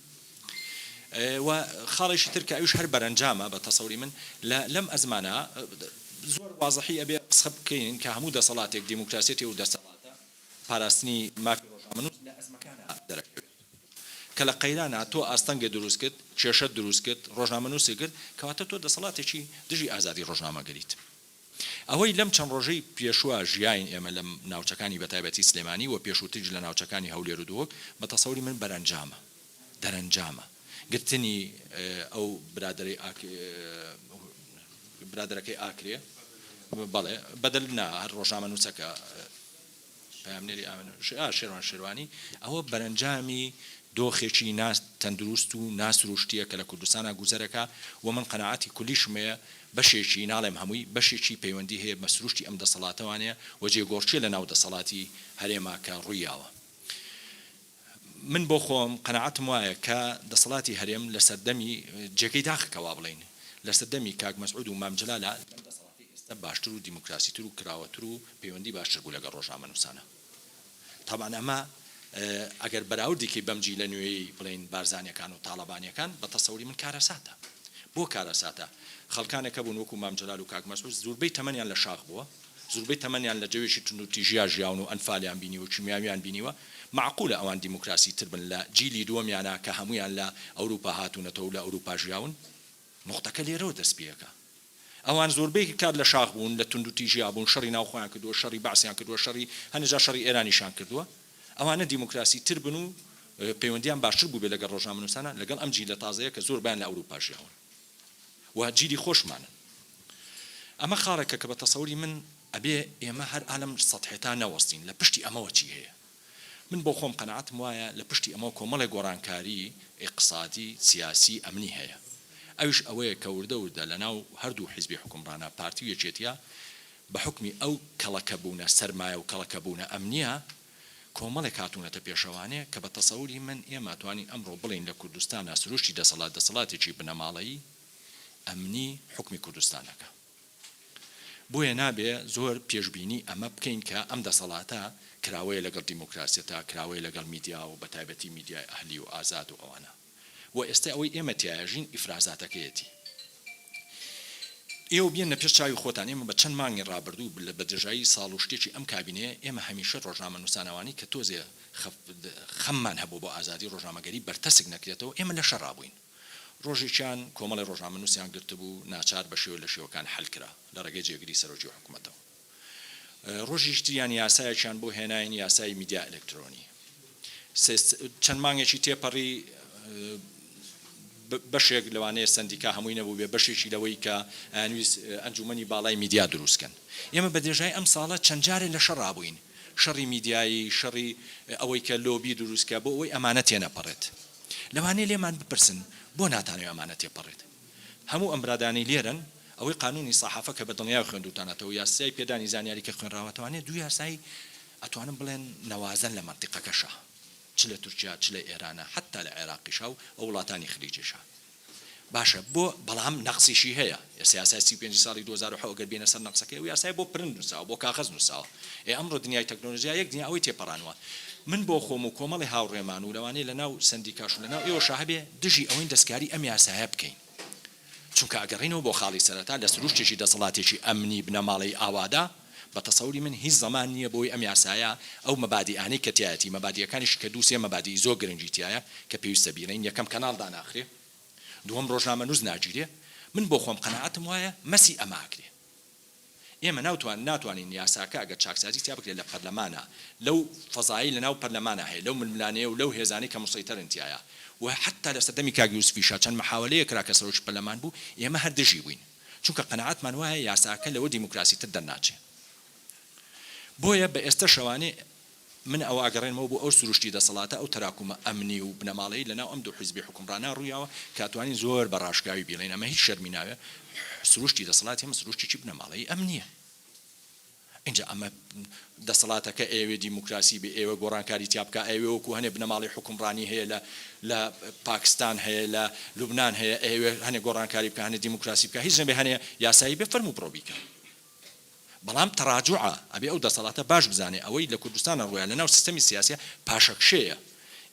S4: و خاڵێکی تر کە ئەویش هەر بەرەنجامە بە تەسەوری من لە لەم ئەزمانە زۆر وازحی ئەبێ قسە بکەین کە هەموو دەسەڵاتێک دیموکراسیەتی و دەسەڵاتە پاراستنی مافی ڕۆژنامەنووس لە ئەزمەکانە دەرەکەوێت کە لە قەیرانا تۆ ئاستەنگت دروست کرد، کێشەت دروست کرد، ڕۆژنامەنووست کرد، کەواتە تۆ دەسەڵاتێکی دژی ئازادی ڕۆژنامەگەریت. ئەوەی لەم چەند ڕۆژەی پێشووە ژیاین ئێمە لە ناوچەکانی بە تایبەتی سلێمانی و پێشووتریش لە ناوچەکانی هەولێر و دهۆک بە تەسەوری من بەرەنجامە دەرەنجامە گرتنی ئەو برادەرەی ئاک برادەرەکەی ئاکرێ بەڵێ بەدەل نا هەر ڕۆژنامەنووسەکە پەیامنێری ئاڤا شێروان شێروانی، ئەوە بەرەنجامی دۆخێکی نا تەندروست و نا سروشتییە کە لە کوردستانا گوزەر ئەکا و من قەناعەتی کولیشم هەیە بەشێکی، ناڵێم هەمووی، بەشێکی پەیوەندی هەیە بە سروشتی ئەم دەسەڵاتەوانەیە و جێگۆڕکێ لە ناو دەسەڵاتی هەرێما کە ڕوویاوە. من بۆ خۆم قەناعەتم وایە کە دەسەڵاتی هەرێم لە سەردەمی، جێگەی داخە کە وابڵێین، لە سەردەمی کاک مەسعود و مام جەلالە لەم دەسەڵاتەی ئێستا باشتر و دیموکراسیتر و کراوەتر و پەیوەندی باشتر بوو لەگەڵ ڕۆژنامەنووسانە. تابان ئەمە ئەگەر بەراوردی کەی بەم جیلە نوێیەی بڵێین بارزانیەکان و تاڵەبانیەکان بە تەسەوری من کارەساتە. بۆ کارەساتە؟ خەڵکانێک هەبوون وەکو مام جەلال و کاک مەسعود زوربەی تەمەنیان لە شاخ بووە، زوربەی تەمەنیان لە جەوێکی توندوتیژیا ژیاون و ئەنفالیان بینیوە کیمیاویان بینیوە مەعقولە ئەوان دیموکراسی تر بن لە جیلی دووەمیانا کە هەموویان لە ئەوروپا هاتونەتەوەو لە ئەوروپا ژیاون نوقتەکە لێرەوە دەست پێەکا ئەوان زوربەی کات لە شاخ بوون لە توندوتیژیا بوون شەڕی ناو خۆیان کردوە شەڕی بەعسیان کردوە شەڕی هەنێ جار شەڕی ئێرانیشان کردوە ئەوانە دیموکراسی تر بن و پەیوەندیان باشتر بووبێ لەگەڵ ڕۆژنامەنوسانا لەگەڵ ئەم جیلە تازەیە کە زۆر بەیان لە ئەوروپا ژیاون. و جیلی خۆشمانن ئەمە خاڵێکە کە بە تەسەوری من ئەبێ ئێمە هەر ئالەم سەتحێتا نەوەستین لە پشتی ئەمەوە چی هەیە من بۆ خۆم قەناعەتم وایە لە پشتی ئەمەوە کۆمەڵێ گۆڕانکاری ئیقسادی سیاسی ئەمنی هەیە ئەویش ئەوەیە کە وردە وردە لە ناو هەردوو حیزبی حوکمڕانا پارتی و یەکێتیا بە حوکمی ئەو کەڵەکەبوونە سەرمایە و کەڵەکەبوونە ئەمنیە کۆمەڵێک هاتوونەتە پێشەوانێ کە بە تەسەوری من ئێمە ئەتوانین ئەمڕۆ بڵێین لە کوردستانا سروشتی دەسەڵات دەسەڵاتێکی بنەماڵەیی، ئەمنی، حوکمی کوردستان ئەکا. بۆیە نابێ زۆر پێشبینی ئەمە بکەین کە ئەم دەسەڵاتە کراوەیە لەگەڵ دیموکراسیەتا، کراوەیە لەگەڵ میدیا و بە تایبەتی میدیای ئەهلی و ئازاد و ئەوانە. وە ئێستە ئەوەی ئێمە تیایەژین ئیفرازاتەکەیەتی ئێوە بێننە پێش چاوی خۆتان ئێمە بە چەند مانگی ڕابردوو بلە بە درێژایی ساڵ و شتێکی ئەم کابینەیە ئێمە هەمیشە ڕۆژنامەنووسانەوانی کە تۆزێ خەممان هەبوو بۆ ئازادی ڕۆژنامەگەری بەرتەسک نەکرێتەوە ئێمە لە شەڕا بووین ڕۆژێکیان کۆمەڵی ڕۆژنامەنووسیان گرتبوو ناچار بە شێوە لە شێوەکان حل کرا لە ڕێگەی جێگری سەرۆکی حکومەتەوە ڕۆژیش تریان یاسایەکیان بۆ هێناین یاسای میدیا ئەلەکترۆنی سێست چەند مانگێکی تێپەڕی بەشێک لەوانەیە سندیکا هەمووی نەبووبێ بەشێکی لەوەی کە ئەنویس ئەنجومنی باڵای میدیا دروستکەن ئێمە بە درێژای ئەم ساڵە چەند جارێ لە شەڕابووین شەڕی میدیایی شەڕی ئەوەی کە لۆبی دروستکە بۆ ئەوەی ئەمانە تێنەپەڕێت لەوانەیە لێمان بپرسن بۆ ناتانەوێ ئەمانە تێپەڕێت هەموو ئەم برادانەی لێرەن ئەوەی قانونی ساحافە کە بەدڵنیایەوە خوێندوتانەتەوەو یاسای پێدانی زانیاری کە خوێنراوەتانە دوو یاسای ئەتوانم بڵێن نەوازەن لە مەنتیقەکەشا چ لە تورکیا چ لە ئێرانە حەتا لە عێراقیشا و ئەو وڵاتانی خلیجیشا باشە بۆ بەڵام نەقسیشی هەیە ئێستا یاسای سی و پێنجی ساڵی دوو هەزار و حەوت گەر بێینە سەر نەقسەکەی ئەو یاسایە بۆ پرنت نوساوە بۆ کاغەز نوساوە ئێ ئەمڕۆ دنیای تەکنۆلۆجیا یەک دنیا ئەوەی تێپەڕانوە من بۆ خۆم و کۆمەڵی هاوڕێمان و لەوانەیە لەناو سەندیکاش و لەناو ئێوەشا هەبێ دژی ئەوەین دەستکاری ئەم یاسایە بکەین، چونکە ئەگەڕێینەوە بۆ خاڵی سەرەتا لە سروشتێکی دەسەڵاتێکی ئەمنی بنەماڵەیی ئاوادا، بە تەسەوری من هیچ زەمان نییە بۆی ئەم یاسایە ئەو مەبادیئانەی کە تیایەتی، مەبادیئەکانیشی کە دوو سێ مەبادیئی زۆر گرنگی تیایە کە پێویستە بیڵێین، یەکەم کەناڵ داناخرێ، دووەم ڕۆژنامەنووس ناگیرێ، من بۆ خۆم قەناعەتم وایە مەسی ئەمە ئەکرێ. ئێمە ناوتوان ناتوانین یاساکە ئەگەر چاکسازی تیا بکرێت لە پەرلەمانە لەو فەزایەی لە ناو پەرلەمانە هەیە لەو ململانێ و لەو هێزانەی کە مسەیتەرن تیایا و حەتا لە سەردەمی کاک یوسفیشا چەند محاولەیەک کرا کە سەرۆکی پەرلەمان بوو ئێمە هەر دژی بووین چونکە قەناعەتمان وایە یاساکە لەوە دیموکراسیتر دەرناچێ بۆیە بە ئێستا شەوانێ من ئەوە ئەگەڕێنمەوە بۆ ئەو سروشتی دەسەڵاتە، ئەو تەراکومە ئەمنی و بنەماڵەی لەناو ئەم دوو حیزبی حوکمڕانا ڕوویاوە کە ئەتوانین زۆر بە ڕاشکاوی بیڵێین ئەمە هیچ شەرمی ناوێ سروشتی دەسەڵاتی ئێمە سروشتێکی بنەماڵەیی ئەمنییە. ئینجا ئەمە دەسەڵاتەکە ئەیەوێ دیموکراسی بێ ئەیەوێ گۆڕانکاری تیا بکا ئەیەوێ وەکوو هەنێ بنەماڵەی حوکمڕانی هەیە لە لە پاکستان هەیە لە لوبنان هەیە ئەیەوێ هەنێ گۆڕانکاری بکا هەنێ دیموکراسی بکا هیچ نەبێ هەنێ یاسایی بێ فەرموو بڕۆ بیکە. بەڵام تەڕاجوعە، ئەبێ ئەو دەسەڵاتە باش بزانێ ئەوەی لە کوردستانە ڕوویە لە ناو سیستەمی سیاسیە پاشەکشێیە،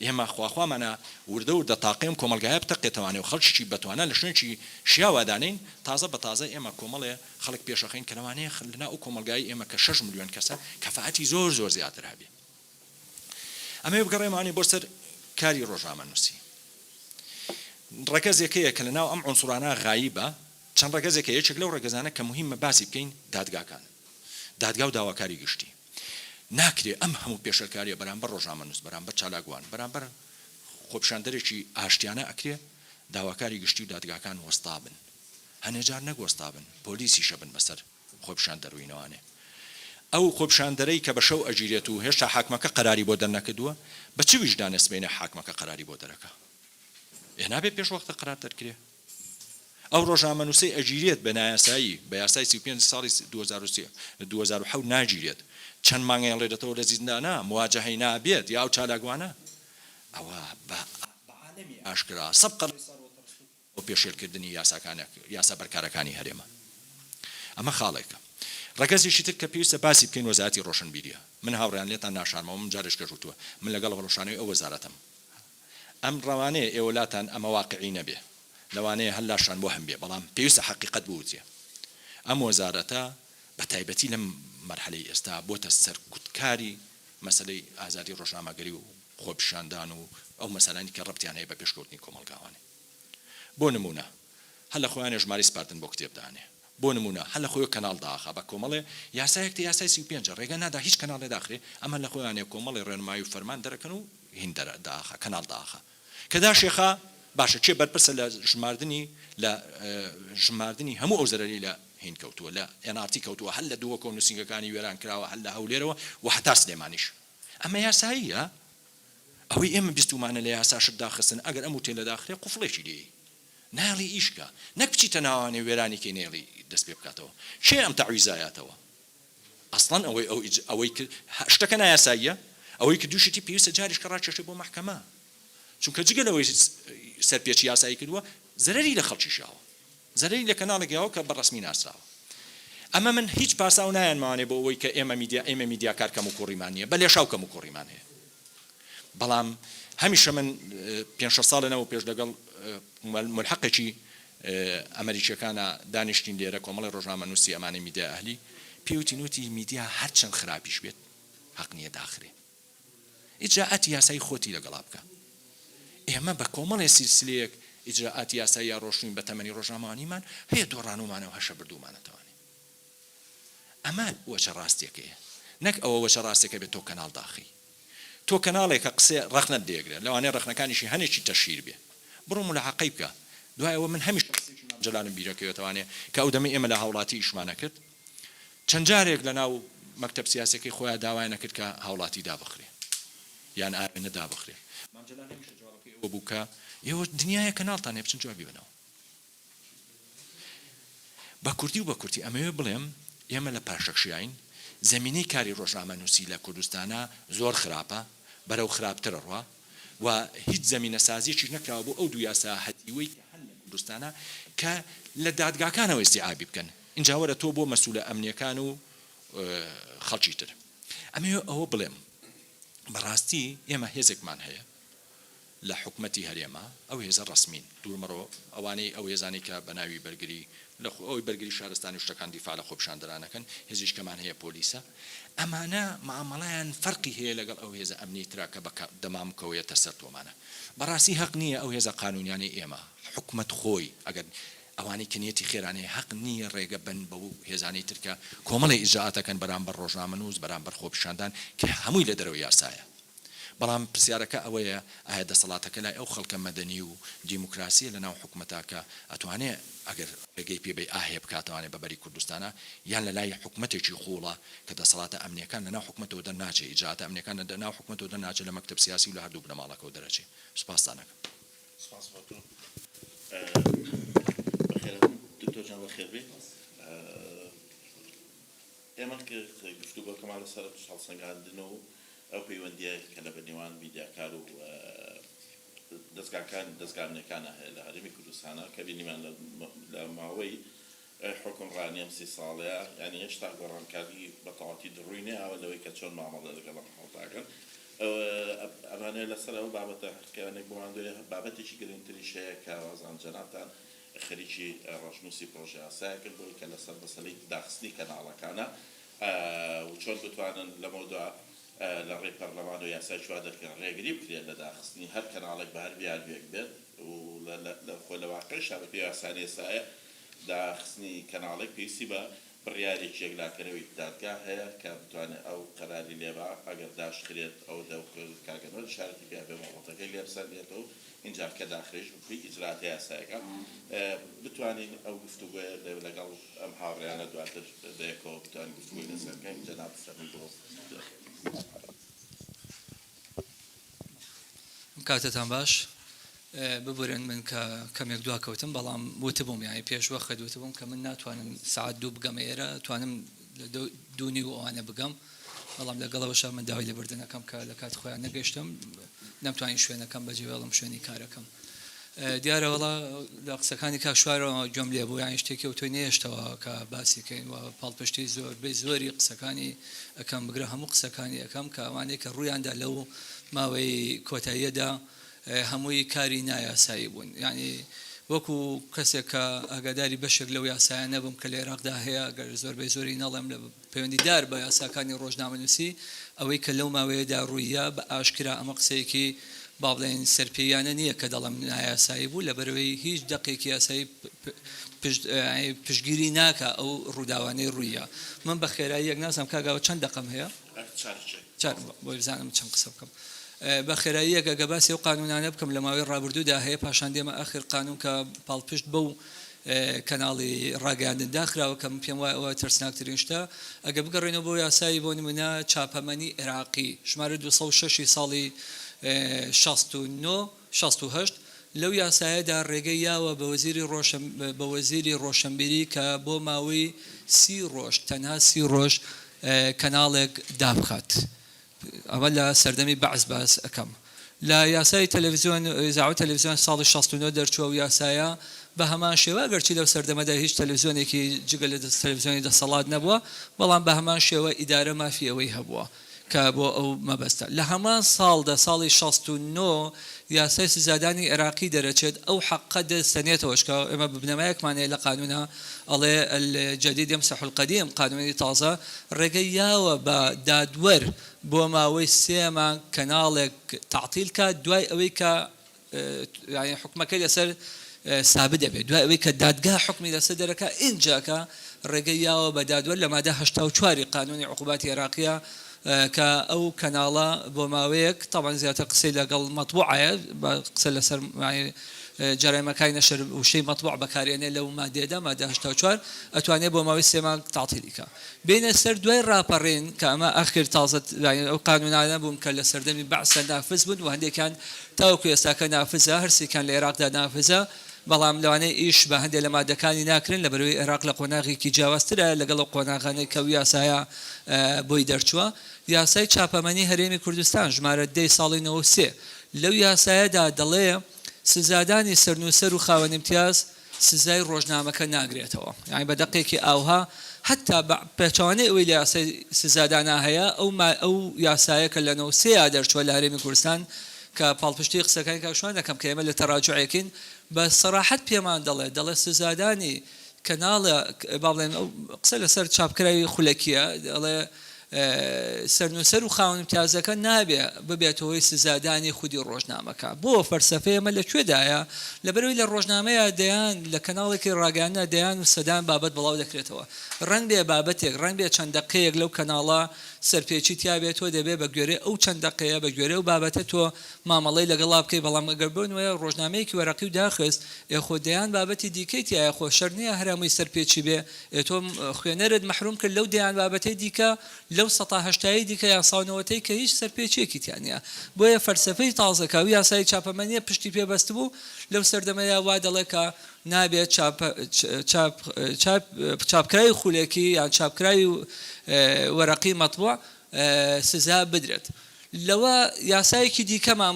S4: ئێمە خواخوامانە وردە وردە تاقی ئەم کۆمەڵگایە بتەقێتەوانێ و خەڵکێکی بەتوانا لە شوێنێکی شیاوا دانێین، تازە بە تازە ئێمە کۆمەڵێ خەڵک پێشەخەین کە لەوانەیە لە ناو ئەو کۆمەڵگایەی ئێمە کە شەش ملیۆن کەسە کەفائەتی زۆر زۆر زیاتر هەبێ. ئەمەوێ بگەڕێمەوانێ بۆ سەر کاری ڕۆژنامەنووسی. ڕەگەز یەکەیە کە لە ناو ئەم عونسوڕانە غایبە، چەند ڕەگەزێک هەیە، یەکێک لەو ڕەگەزانە کە موهیممە باسی بکەین دادگاکانن، دادگا و داواکاری گشتی. ناکرێ ئەم هەموو پێشێلکارییە بەرامبەر ڕۆژنامەنووس، بەرامبەر چالاکوان، بەرامبەر خۆپیشاندەرێکی ئاشتیانە ئەکرێ داواکاری گشتی و دادگاکان وەستا بن، هەنێ جار نەک وەستا بن، پۆلیسیشە بن بەسەر خۆپیشاندەر و ئینەوانێ. ئەو خۆپیشاندەرەی کە بە شەو ئەگیرێت و هێشتا حاکمەکە قەراری بۆ دەرنەکردووە، بە چ ویژدانێ سبەینێ حاکمەکە قەراری بۆ دەرەکا؟ ئێ نابێ پێش وەختە قەرار دەرکرێ؟ ئەو ڕۆژنامەنووسەی ئەگیرێت بە نایاسایی، بە یاسای سی و پێنج ساڵی دوو هەزار و سێ، دوو هەزار و حەوت ناگیرێت، چەند مانگ ئەیەڵێرێتەوە لە زیندانە، مواجەهەی نابێت، یا ئەو چالاکوانە ئەوە بە عالەمی ئاشکرا سەد قەڕەی سەڕ و تڕشت و بۆ پێشێلکردنی یاسا بەرکارەکانی هەرێمە. ئەمە خاڵێکە. ڕەگەزێکی تر کە پێویستە باسی بکەین وەزارەتی ڕۆشنبیریە. من هاوڕێیان لێتان ناشارمەوە، من جارێکش گەشوتووە، من لەگەڵ هەڵوەشانەوەی ئەو وەزارەتەم. ئەم ڕەوانەیە ئێوە لاتان ئەمە واقعی نەبێ لەوانەیە هەر لاشان وەهم بێ بەڵام پێویستە حەقیقەت بوترێ ئەم وەزارەتە بە تایبەتی لەم مەرحەلەی ئێستا بۆتە سەرکوتکاری مەسەلەی ئازادی ڕۆژنامەگەری و خۆپیشاندان و ئەو مەسەلانەی کە ڕەبتیان هەیە بە پێشکەوتنی کۆمەڵگاوانێ بۆ نمونە هەر لە خۆیانێ ژمارەی سپاردن بۆ کتێب دانێ بۆ نموونە هەر لە خۆیۆ کەناڵ داخا بە کۆمەڵێ یاسایەک تێ یاسای سی و پێنج ڕێگە نادا هیچ کەناڵێ داخرێ ئەم هەر لە خۆیانێ کۆمەڵێ ڕێنمایی و فەرمان دەرەکەن و هین دەرە داخا کەناڵ داخا کە داشێخا باشە کێ بەرپرسە لە ژماردنی لە ژماردنی هەموو ئەو زەرەرەی لە هین کەوتووە لە ئێن ئاڕ تی کەوتووە هەر لە دووەکۆ نووسینگەکانی وێران کراوە هەر لە هەولێرەوە و هەتا سلێمانیش ئەمە یاساییە؟ ئەوەی ئێمە بیستومانە لە یاسا شت داخستن ئەگەر ئەم وتەیە لەداخرێ قوفڵێکی لێی نایڵی ئیش کە نەک بچیتە ناوانێ وێرانی کەی نەیڵی دەست پێ بکاتەوە کێ ئەم تەعویزە یاتەوە ئەسڵەن ئەوەی ئەو ئیج ئەوەی کرد هە شتەکە نایاساییە ئەوەی کردوشیتی پێویستە جاریش کە ڕاکێشێ بۆ مەحکەمە چونکە جگە لەوەی سەرپێچی یاسایی کردوە زەرەری لە خەڵکیش یاوە. زەرەری لە کەناڵێک یاوە کە بە ڕەسمی ناسراوە ئەمە من هیچ پاساو نایەن ماوانێ بۆ ئەوەی کە ئێمە میدیا ئێمە میدیاکار کەم و کوڕیمان نیە بە لێشاو کەم و کوڕیمان هەیە بەڵام هەمیشە من پێنج شەست ساڵە نەوە پێش لەگەڵ مولحەقێکی ئەمەریکیەکانا دانیشتین لێرە کۆمەڵی ڕۆژنامە نوسی ئەمانەی میدیای ئەهلی پێوتین وتی میدیا هەرچەند خراپیش بێت هەق نیە داخرێ ئیجرائاتی یاسایی خۆتی لەگەڵا بکە. ئێمە بە کۆمەڵێ سیلسلەیەک ئیجرائاتی یاساییا ڕۆشتوین بە تەمەنی ڕۆژنامەوانیمان هەیە دۆڕانومانەو هەشە بردومانەتەوانێ. ئەمە وەچە ڕاستیەکەیە. نەک ئەوە وەچە ڕاستیەکە بێ تۆ کەناڵ داخەی. تۆ کەناڵێ کە قسێ ڕەخنەت دەیەگرێ لەوانەیە ڕەخنەکانیشی هەنێکی تەشهیر بێ. بڕۆ مولاحەقەی بکە. دوای ئەوە من هەمیشە قسەی مام جەلالم بیرەکەوێتەوانێ کە ئەو دەمەی ئێمە لە هاوڵاتی ئیشمانەکرد. چەند جارێک لە ناو مەکتەب سیاسیەکەی خۆیا داوایان ئەکرد کە هاوڵاتی دابخرێ یان ئاوێنە دابخرێ مام جەلال هەمیشە جوابەکەی ئەوە بوو کە ئێوە دنیایە کەناڵتان هەیە بچن جوابی بەنەوە بە کوردی و بە کورتی ئەمەوێ بڵێم ئێمە لە پاشەکشیاین زەمینەی کاری ڕۆژنامە نووسی لە کوردستانە زۆر خراپە بەرەو خراپترە ڕوا و هیچ زەمینە سازیەکی نەکراوە بۆ ئەو دوو یاسا هەتیوەی کە هەن لە کوردستانە کە لە دادگاکانەوە ئیستیعابی بکەن ئینجا وەرە تۆ بۆ مەسولە ئەمنیەکان و خەڵکی تر ئەمەوێ ئەوە بڵێم بەڕاستی ئێمە هێزێکمان هەیە لە حکومەتی هەرێمە ئەو هێزە ڕسمین دوورمەڕۆ ئەوانەی ئەو هێزانی کە بە ناوی بەرگری لە ئەوی بەرگری شارستانی شتەکان دیفاع لە خۆپشاندەرانەکەن هێزیشکەمان هەیە پۆلیسە ئەمانە معاملەیان فەرقی هەیە لەگەڵ ئەو هێزە ئەمنی ترا کە بە دەمامکەوەیەتە سەر تۆمانە بەڕاستی هەق نییە ئەو هێزە قانونیانەی ئێمە حکومەت خۆی ئەگەر ئەوانەی کە نیەتی خێرانەیە هەق نییە ڕێگە بەن بەو هێزانەی تر کە کۆمەڵی ئیجرائات ئەکەن بەرامبەر ڕۆژنامەنووس، بەرامبەر خۆپیشاندان کە هەمووی لە دەرەوەی یاسایە. بەڵام پرسیارەکە ئەوەیە ئایا دەسەڵاتەکە لای ئەو خەڵکە مەدەنی و دیموکراسییە لە ناو حکومەتا کە ئەتوانێ ئەگەر ڕێگەی پێ بەی ئاهێ بکاتەوانێ بە بەری کوردستانا یان لە لای حکومەتێکی قووڵە کە دەسەڵاتە ئەمنییەکان لە ناو حکومەتەوە دەر ناچێ ئیجرائاتە ئەمنییەکان لە ناو حکومەتەوە دەر ناچێ لە مەکتەب سیاسی و لە هەردوو بنەماڵەکەوە دەر ئەچێ؟ سوپاستان ئەکەم. سپاس بۆ
S3: تۆ بەخێر دکتۆر جان بەخێر بێ ئێمە گفتو بۆکەمان لەسەر هەڵسەنگاندن و ئەو پەیوەندیە کە لە بەنێوان میدیاکار و دەستگاکان دەستگامنەکانە هەیە لە هەرمی کوردستانە کە بینیمان لە ماوەی ئەی حوکمڕانی ئەم سی ساڵەیە یانی هێشتا گۆڕانکاری بەتەواوەتی دڕووی نەیاوە لەوەی کە چۆن مامەڵە لەگەڵ ئەم حاڵتاکەن ئەوە ئەمانە لەسەر ئەو بابەتە هەرکەیانێک بماندوێ بابەتێکی گرنگتریش هەیە کە وازان جەنابتان خەریکی ڕەشنووسی پڕۆژەیاسایەکن بۆی کە لەسەر مەسەلەی داخستنی کەناڵەکانە و چۆن بتوانن لەمەو دوا لە ڕێی پەرلەمان و یاسای چوا دەرکرێن ڕێگری بکرێت لە داخستنی هەر کەناڵێک بە هەر بیانویەک بێت و لە خۆ لە واقعیشا بە پێی یاسای ئێستایە داخستنی کەناڵێک پێویستی بە بڕیارێکی یەکلاکەرەوەی دادگا هەیە کە بتوانێت ئەو قەراری لێبا، ئەگەر داشکرێت ئەو دەوکەل کاکە نۆری شارەتی پیا بێ مۆڵەتەکەی لێ بسەندێت و ئینجا کە داخرێژ بکوی ئیجراتە یاسایەکە بتوانین ئەو گفتوگۆیە دەبێت لەگەڵ ئەم هاوڕێیانە دواتر بەیەکەوە بتوانین گفتوگۆی لەسەر بکەین جەنابت فەرمی بۆ دەخێنم.
S5: کاتتان باش. ببورن من کە کەمێک دوا کەوتم بەڵام وتبووم یانی پێش وەخت وتبووم کە من ناتوانم سعات دوو بگەم ئێرە توانم دوونی و ئەوانە بگەم بەڵام لەگەڵەوەشە من داوای لەبردنەکەم کە لە کات خۆیان نەگەشتم نەمتوانین شوێنەکەم بەجێ بەڵم شوێنی کارەکەم دیارە وەڵا لە قسەکانی کاک شوارەوە گوێم لێ بوو یانی شتێکی ئەوتۆی نەهێشتەوە کە باسی کەین و پاڵپشتی زۆربەی زۆری قسەکانی ئەکەم بگرە هەموو قسەکانی ئەکەم کە ئەوانەی کە ڕوویاندا لەو ماوەی کۆتاییەدا هەمووی کاری نایاسایی بوون یانی وەکو کەسێک کە ئاگاداری بەشێک لەو یاسایانە بووم کە لە عێراقدا هەیە گەر زۆربەی زۆری نەڵێم لە پەیوەندیدار بە یاساکانی ڕۆژنامەنووسی، ئەوەی کە لەو ماوەیەدا ڕووییە بە ئاشکرا ئەمە قسەیەکی با بڵێین سەرپێییانە نییە کە دەڵێم نایاسایی بوو، لەبەرئەوەی هیچ دەقێکی یاسایی پشتگیری ناکا ئەو ڕووداوانەی ڕووییە. من بە خێراییەک نازانم کاک ئاوات چەند دەقەم هەیە؟ چار، بۆی بزانم چەند قسە بکەم. بە خێراییەک ئەگەر باسی ئەو قانوونانە بکەم لە ماوەی ڕابردوودا هەیە، پاشان دێمە ئاخر قانوون کە پاڵپشت بەو. کەناڵی ڕاگەیاندن داخراوە کە من پێم وایە ئەوە ترسناکترین شتە ئەگەر بگەڕێینەوە بۆ یاسای بۆ نمونە چاپەمەنی عێراقی ژمارە دوو سەد و شەش ی ساڵی شەست و نۆ شەست و هەشت لەو یاسایەدا ڕێگەی یاوە بە وەزیری ڕۆشن بە وەزیری ڕۆشنبیری کە بۆ ماوەی سی ڕۆژ تەنها سی ڕۆژ کەناڵێک دابخات ئەمە لە سەردەمی بەعس باس ئەکەم. لە یاسای تەلەفزیۆن، اذاعە و تەلەفزیۆن، ساڵی شەست و نۆ دەرچووە و یاسایە بە هەمان شێوە، ئەگەرچی لەو سەردەمەدا هیچ تەلەفزیۆنێکی جگە لە تەلەفزیۆنی دەسەڵات نەبووە، بەڵام بە هەمان شێوە ئیدارە مافی ئەوەی هەبووە کە بۆ ئەو مەبەستە. لە هەمان ساڵدا، ساڵی شەست و نۆ، یاسای سزادانی عێراقی دەرەچێت، ئەو حەققە دەر سەنێتەوەش کە ئێمە بنەمایەکمان هەیە لە قانوونە، ئەڵێ، الجدید یمسح القدیم، قانونی تازە ڕێگەی یاوە بە دادوەر بۆ ماوەی سێ مانگ کەناڵێک تەعتیل کات دوای ئەوەی کە یانی حوکمەکەی لەسەر سابت دەبێت دوای ئەوەی کە دادگا حوکمی لەسەر دەرەکا ئینجاکە ڕێگەی یاوە بە دادوەر لە مادە هەشتا و چوار ی قانونی عقوبات عێراقیە کە ئەو کەناڵە بۆ ماوەیەک تەبعەن زیاتر قسەی لە گەڵ مەتبوعایە بە قسە لە سەر مەعنی جەرایمەکای نەشر وشەی مەتبوع بەکار ئێنێ لەو مادەیەدا مادە هەشتا و چوار ئەتوانێ بۆ ماوەی سێ مانگ تەعتیلی کا بێینە سەر دوای ڕاپەڕین کە ئەمە ئاخر تازە یانی ئەو قانوونانە بوون کە لە سەردەمی بەعسە نافز بوون و هەندێکیان تاوەکو ئێستاکە نافزە هەر سێکیان لە ئێراقدا نافزە بەڵام لەوانەیە ئیش بە هەندێ لە مادەکانی ناکرێن لەبەرەوەی ئێراق لە قۆناغێکی جیاوازترایە لەگەڵ ئەو قۆناغانەی کە ئەو یاسایە بۆی دەرچووە. یاسای چاپەمەنی هەرێمی کوردستان، ژمارە دە ی ساڵی نەوەد و سێ، لەو یاسایەدا دەڵێ سزادانی سەرنووسەر و خاوەن ئیمتیاز سزای ڕۆژنامەکە ناگرێتەوە. یانی بە دەقێکی ئاوها هەتا بە پێچەوانەی ئەوەی لە یاسای سزادانا هەیە، ئەو یاسایە کە لە نەوەد و سێ یا دەرچووە لە هەرێمی کوردستان کە پاڵپشتی قسەکانی کاک شوان دەکەم کە ئێمە لە تەراجوعێکین بە سەراحەت پێمان دەڵێ دەڵێ سزادانی کەناڵ با بڵێن ئەو قسە لەسەر چاپکراوی خولەکیە دەڵێ سەرنووسەر و خاوەن امتیازەکە نابێ ببێتەوە هۆی سزادانی خودی ڕۆژنامەکە بۆ فەرسەفەیە مە لە کوێدایە لەبەرەوەی لە ڕۆژنامەیە دەیان لە کەناڵێکی ڕاگەیاندنا دەیان و سەدان بابەت بڵاو دەکرێتەوە ڕەنگ بێ بابەتێک ڕەنگ بێ چەند دەقەیەک لەو کەناڵە سەرپێچی تیا بێت تۆ دەبێت بە گوێرەی ئەو چەند دەقەیە بە گوێرەی ئەو بابەتە تۆ مامەڵەی لەگەڵا بکەی بەڵام ئەگەر بۆ نمونە ڕۆژنامەیەکی وەرەقی و داخست ئێ خۆ دەیان بابەتی دیکەی تیایە خۆ شەرت نیە هەر هەمووی سەرپێچی بێ ئێ تۆ خوێنەرت مەحروم کرد لەو دەیان بابەتەی دیکە لەو سەتا هەشتای دیکە یان ساو نەوەتەی کە هیچ سەرپێچیەکی تیا نیە بۆیە فەلسەفەی تازە کە ئەو یاسای چاپەمەنیە پشتی پێ بەستبوو لەو سەردەمەیا وا دەڵێ کە نابێت چاپ چاپ چاپ چاپکراوی خولەکی یان چاپکراوی وەرەقی مەتبوع سزا بدرێت لەوە یاسایەکی دیکەمان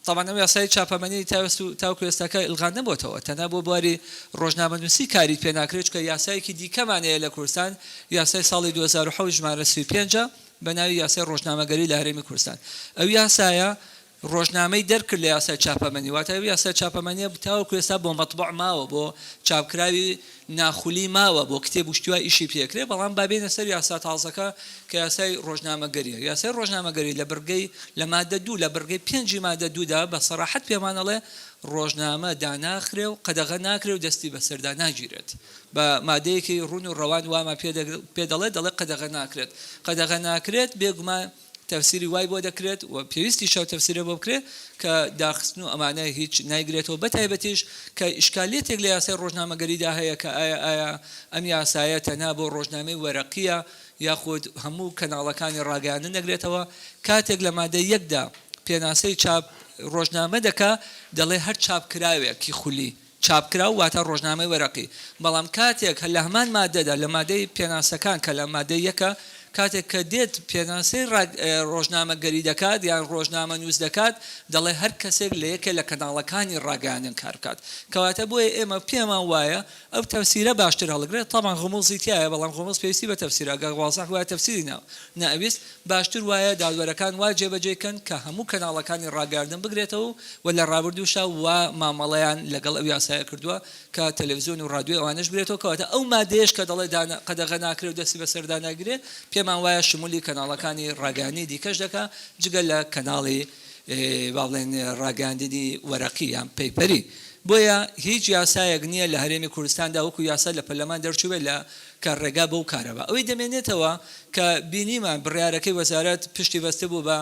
S5: تەبان ئەم یاسای چاپەمەنی تاوەست و تاوکو ئێستاکە ئلغا نەبووتەوە تەنها بۆ بواری ڕۆژنامەنووسی کاریت پێ ناکرێت چکە یاسایەکی دیکەمان هەیە لە کوردستان یاسای ساڵی 2007 ژمارە 35 بە ناوی یاسای ڕۆژنامەگەری لە هەرێمی کوردستان ئەو یاسایە ڕۆژنامەی دەرکرد لە یاسای چاپەمەنی واتە ئەو یاسای چاپەمەنیە تاوەکو ئێستا بۆ مەتبوع ماوە بۆ چاپکراوی ناخولی ماوە بۆ کتێب و شتیوا ئیشی پێکرێ بەڵام با بێنە سەر یاسا تازەکە کە یاسای ڕۆژنامەگەریە یاسای ڕۆژنامەگەری لە بڕگەی لە مادە دوو لە بڕگەی پێنجی مادە دوودا بە سەراحەت پێمان ئەڵێ ڕۆژنامە داناخرێ و قەدەغە ناکرێ و دەستی بەسەردا ناگیرێت بە مادەیەکی ڕون و ڕەوان وامان پێ دەڵێ دەڵێ قەدەغە ناکرێت قەدەغە ناکرێت بێگومان تەفسیری وای بۆ دەکرێت و پێویستیشە و تەفسیرێ بۆ بکرێت کە داخستن و ئەمانە هیچ نایگرێتەوە بەتایبەتیش کە ئیشکالیەتێک لە یاسای ڕۆژنامەگەریدا هەیە کە ئایا ئایا ئەم یاسایە تەنها بۆ ڕۆژنامەی وەرەقیە یاخود هەموو کەناڵەکانی ڕاگەیاندن دەگرێتەوە کاتێک لە مادەی یەکدا پێناسەی چاپ ڕۆژنامە دەکا دەڵێ هەر چاپکراوێکی خولی چاپکراو واتە ڕۆژنامەی وەرەقی، بەڵام کاتێک لە هەمان ماددەدا لە ماددەی پێناسەکان کە لە ماددەی یەکە، کاتێک کە دێت پێناسەی ڕۆژنامەگەری دەکات یان ڕۆژنامەنووس دەکات دەڵێ هەر کەسێک لە یەکێ لە کەناڵەکانی ڕاگەیاندن کار بکات کەواتە بۆیە ئێمە پێمان وایە ئەو تەفسیرە باشتر هەڵگرێت تەبعەن غوموزی تیایە بەڵام غوموز پێویستی بە تەفسیرە گەر وازح بوایە تەفسیری نائەویست باشتر وایە دادوەرەکان وا جێبەجێی کەن کە هەموو کەناڵەکانی ڕاگەیاندن بگرێتەوە و وە لە ڕابردووشدا وا مامەڵەیان لەگەڵ ئەو یاسایە کردووە کە تەلەفزیۆن و ڕادیۆی ئەوانەش بگرێتەوە کەواتە ئەو مادەیەش کە دەڵێ دان قەدەغە ناکرێ و دەستی بەسەردا ناگیرێ پێمان وایە شمولی کەناڵەکانی ڕاگەیاندنی دیکەش دەکا جگە لە کەناڵی با بڵێن ڕاگەیاندنی وەرەقی یان پەیپەری بۆیە هیچ یاسایەک نییە لە هەرێمی کوردستاندا وەکو یاسا لە پەرلەمان دەرچووبێ لە کە ڕێگا بەو کارە بە ئەوەی دەمێنێتەوە کە بینیمان بڕیارەکەی وەزارەت پشتی بەستبوو بە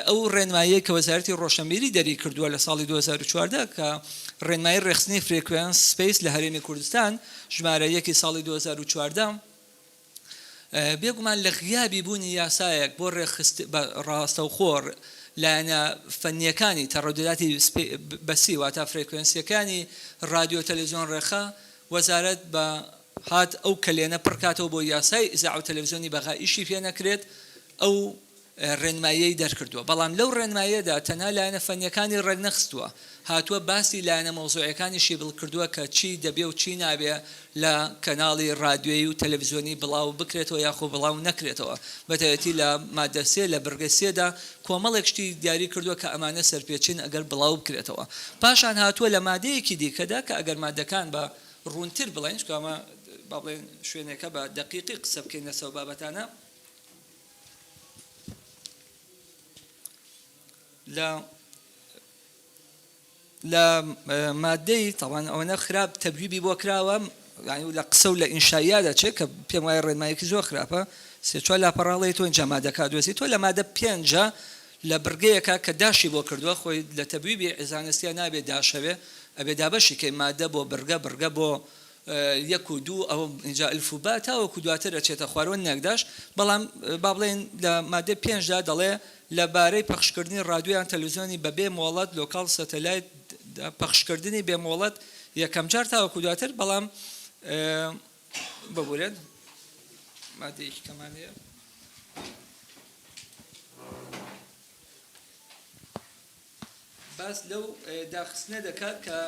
S5: ئەو ڕێنماییەی کە وەزارەتی ڕۆشنبیری دەری کردووە لە ساڵی دوو هەزار و چواردە کە ڕێنمایی ڕێکخستنی فرێکوێنس سپەیس لە هەرێمی کوردستان ژمارە یەک ی ساڵی دوو هەزار و چواردە بێگومان لە غیابی بوونی یاسایەک بۆ ڕێکخست بە ڕاستەوخۆ لایەنە فەنییەکانی تەڕەدوداتی بەسی واتا فرێکوێنسییەکانی ڕادیۆ تەلەزیۆن ڕێکخە وەزارەت بە هات ئەو کەلێنە پڕ کاتەوە بۆ یاسای ئیزاعە و تەلەفزیۆنی بەغا ئیشی پێ نەکرێت ئەو ڕێنماییەی دەرکردووە بەڵام لەو ڕێنماییەدا تەنها لایەنە فەنیەکانی ڕێک نەخستووە هاتووە باسی لایەنە مەوزوعیەکانیشی بڵ کردووە کە چی دەبێ و چی نابێ لە کەناڵی ڕادیۆیی و تەلەفزیۆنی بڵاو بکرێتەوە یاخۆ بڵاو نەکرێتەوە بەتایەتی لە مادە سێ لە بڕگە سێ دا کۆمەڵێک شتی دیاری کردووە کە ئەمانە سەرپێچین ئەگەر بڵاو بکرێتەوە پاشان هاتووە لە مادەیەکی دیکەدا کە ئەگەر مادەکان بە ڕوونتر بڵێین، چونکە ئەمە با بڵێین شوێنێکە بە دەقیقی قسە بکەین لەسەر ئەو بابەتانە. لە لە مادەی تاوان ئەوەنە خراپ تەبیبی بۆ کراوە لە قسە و لە ئینشایا دەچێت کە پێم وایە ڕێنمایەکی زۆر خراپە سێ چوار لاپەڕاڵی تۆ جەمادەکە دۆزی تۆ لە مادە پێنجە لە بڕگەیەکا کە داشی بۆ کردوە خۆی لە تەبویبی عیزانە سیا نابێ داشەوێ ئەبێ دابەشی کەی مادە بۆ بڕگە بڕگە بۆ یەک و دوو ئەوە ئینجا الف و با تاوەکو دواتر ئەچێتە خوار وە نەک داش بەڵام با بڵێین لە مادەی پێنج دا دەڵێ لە بارەی پەخشکردنی ڕادیۆ یان تەلەوزیۆنی بە بێ مۆڵەت لۆکاڵ سەتەلایت دا پەخشکردنی بێ مۆڵەت یەکەم جار تاوەکو دواتر بەڵام ببورێت مادەیەکی کەمان هەیە باس لەو داخستنە دەکات کە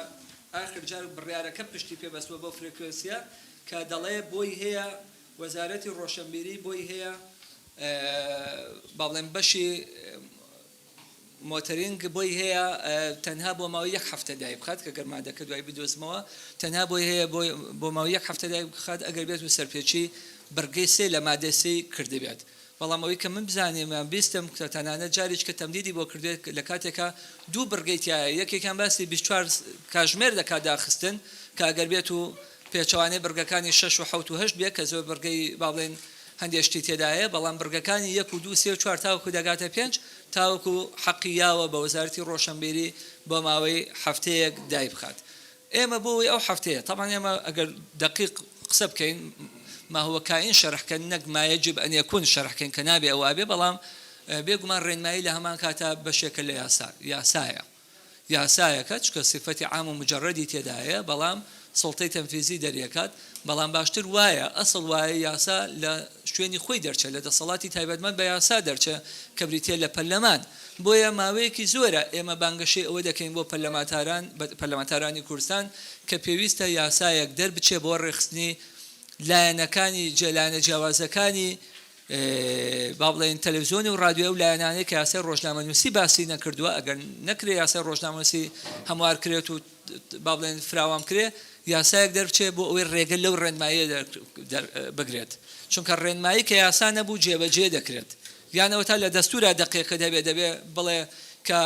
S5: ئاخر جار بڕارەکە پشتی پێبەستوە بۆ فرێکوێنسیە کە دەڵێ بۆی هەیە وەزارەتی ڕۆشنبیری بۆی هەیە باڵێن بەشی مۆتەرینگ بۆی هەیە تەنها بۆ ماوەی یەک هەفتە دایک بخات کە گەر مادەکە دوای بدۆزمەوە تەنها بۆی هەیە بۆ ماوەی یەک هەفتە دایک بخات ئەگەر بێت و سەرپێچی بڕگەی سێ لە مادەی سێی کردبێت بەڵام ئەوەی کە من بزانیم یان بیستم کە تەنانەت جاریش کە تەمدیدی بۆ کردوێت لە کاتێکا دوو بڕگەی تیایە یەکێکیان باسی بیست و چوار کاژمێر دەکات داخستن کە ئەگەر بێت و پێچەوانەی بڕگەکانی شەش و حەوت و هەشت بێت کە زۆر بڕگەی با بڵێین هەندێ شتی تێدایە بەڵام بڕگەکانی یەک و دوو سێ و چوار تاوەکو دەگاتە پێنج تاوەکو حەقی یاوە بە وەزارەتی ڕۆشەنبیری بۆ ماوەی حەفتەیەک دایبخات ئێمە بۆ وەی ئەو حەفتەیە تەبعەن ئێمە ئەگەر دەقیق قسە بکەین ما هو کائین شەرح کەن نەک ما یجب ان یکون شەرح کەین کە نابێ ئەوابێ بەڵام بێ گومان ڕێنمایی لە هەمان کاتا بەشێکە لە یاسا یاسایە. یاسایەکە چکە سیفەتی عام و مجەرەدی تێدایە بەڵام سوڵتەی تەنفیزی دەریەکات بەڵام باشتر وایە ئەسڵ وایە یاسا لە شوێنی خۆی دەرچێ لە دەسەڵاتی تایبەتمەند بە یاسا دەرچێ کە بریتیە لە پەرلەمان بۆیە ماوەیەکی زۆرە ئێمە بانگەشەی ئەوە دەکەین بۆ پەرلەماتاران پەرلەمانتارانی کوردستان کە پێویستە یاسایەک دەربچێ بۆ ڕێکخستنی لایەنەکانی جێ لایەنە جیاوازەکانی با بڵێین تەلەفزیۆنی و ڕادیۆی ئەو لایەنانەی کە یاسای ڕۆژنامەنووسی باسی نەکردووە ئەگەر نەکرێ یاسای ڕۆژنامەنووسی هەموار کرێت و با بڵێن فراوان کرێ یاسایەک دەرچێ بۆ ئەوەی ڕێگە لەو ڕێنمایە بگرێت چونکە ڕێنمایی کە یاسا نەبوو جێبەجێ دەکرێت یانەوە تا لە دەستورا دەقێکە دەبێ دەبێ بڵێ کە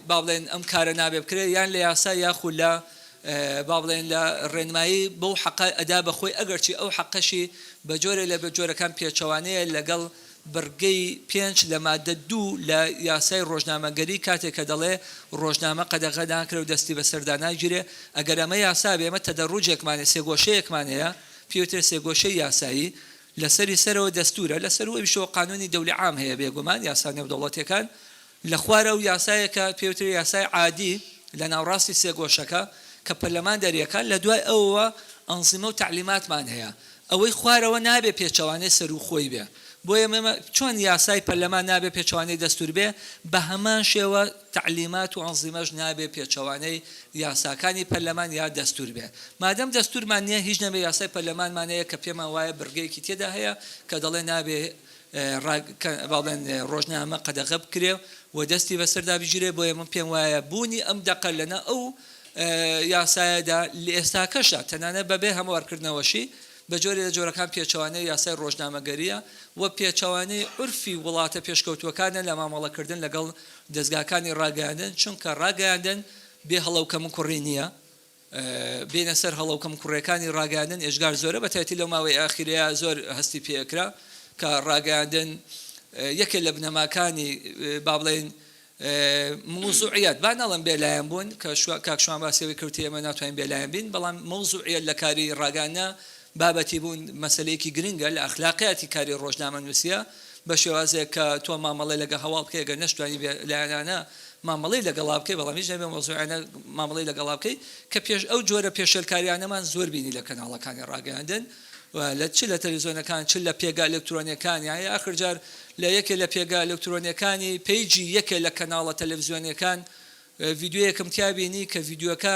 S5: با بڵێن ئەم کارە نابێ بکرێت یان لە یاسا یاخود لە با بڵێین لە ڕێنمایی بەو حەقە ئەدا بە خۆی ئەگەرچی ئەو حەقەشی بە جۆرێ لە جۆرەکان پێچەوانەیە لەگەڵ بڕگەی پێنج لە ماددە دوو لە یاسای ڕۆژنامەگەری کاتێ کە دەڵێ ڕۆژنامە قەدەغە ناکرێ و دەستی بە سەردا ناگیرێ ئەگەر ئەمە یاسا بێ ئێمە تەدەڕوجێکمان هەیە سێگۆشەیەکمان هەیە پێی وترێ سێگۆشەی یاسایی لە سەری سەرەوە دەستوورە لە سەرووەویشەوە قانوونی دەولی عام هەیە بێگومان یاسا نێودەوڵەتیەکان لە خوارەوە یاسایەکە پێی وترێ یاسای عادی لە ناوڕاستی سێگۆشەکە کە پەرلەمان دەریەکات لە دوای ئەوەوە ئەنزیمە و تەعلیماتمان هەیە ئەوەی خوارەوە نابێ پێچەوانەی سەرووخۆی بێ بۆیە مەمە چۆن یاسای پەرلەمان نابێ پێچەوانەی دەستوور بێ بە هەمان شێوە تەعلیمات و ئەنزیمەش نابێ پێچەوانەی یاساکانی پەرلەمان یا دەستوور بێ مادەم دەستوورمان نیە هیچ نەبێ یاسای پەرلەمانمان هەیە کە پێمان وایە بڕگەیەکی تێدا هەیە کە دەڵێ نابێ ڕاگەیاندن کە ڕۆژنامە قەدەغە بکرێ و دەستی بەسەردا بگیرێ، بۆیە من پێم وایە بوونی ئەم دەقە لەناو ئەو یاسایەدا لە ئێستاکەشدا تەنانەت بەبێ هەموارکردنەوەشی بە جۆرێ لە جۆرەکان پێچەوانەی یاسای ڕۆژنامەگەرییە و پێچەوانەی عورفی وڵاتە پێشکەوتووەکانە لە مامەڵەکردن لەگەڵ دەزگاکانی ڕاگەیاندن، چونکە ڕاگەیاندن بێ هەڵە و کەموکوڕی نییە. بێنە سەر هەڵە و کەم کوڕێکانی ڕاگەیاندن ئێجگار زۆرە بەتایەتی لەو ماوەی ئاخیرەیا زۆر هەستی پێ ئەکرا کە ڕاگەیاندن یەکێ لە بنەماکانی بابڵێین موزوعیەت با نەڵم بێلایەن بوون کە کاک شوان باسی ئەوەی کردی ئێمە ناتوانین بێلایەن بین بەڵام موزوعیەت لە کاری ڕاگانە بابەتی بوون مەسلەیەکی گرنگە لە ئەخلاقیاتی کاری ڕۆژنامە نووسە بە شێوازێک کە تۆ مامەڵەی لەگە هەواڵ بکەی گەر نەشتوانی بێ لایەنانە مامەڵەی لەگەڵا بکەی بەڵام هیچ نەبێ مەوزوعیانە مامەڵەی لەگەڵا بکەی کە پێش ئەو جۆرە پێشێلکاریانەمان زۆر بینی لە کەناڵەکانی ڕاگەیاندن و لە چ لە تەلویزیۆنەکان چ لە پێگە ئەلکترۆنیەکان یان ئاخر جار لە یەکێ لە پێگە ئەلکترۆنیەکانی پەیجی یەکێ لە کەناڵە تەلەڤزیۆنیەکان ڤیدیۆیەکم تیا بینی کە ڤیدیۆکە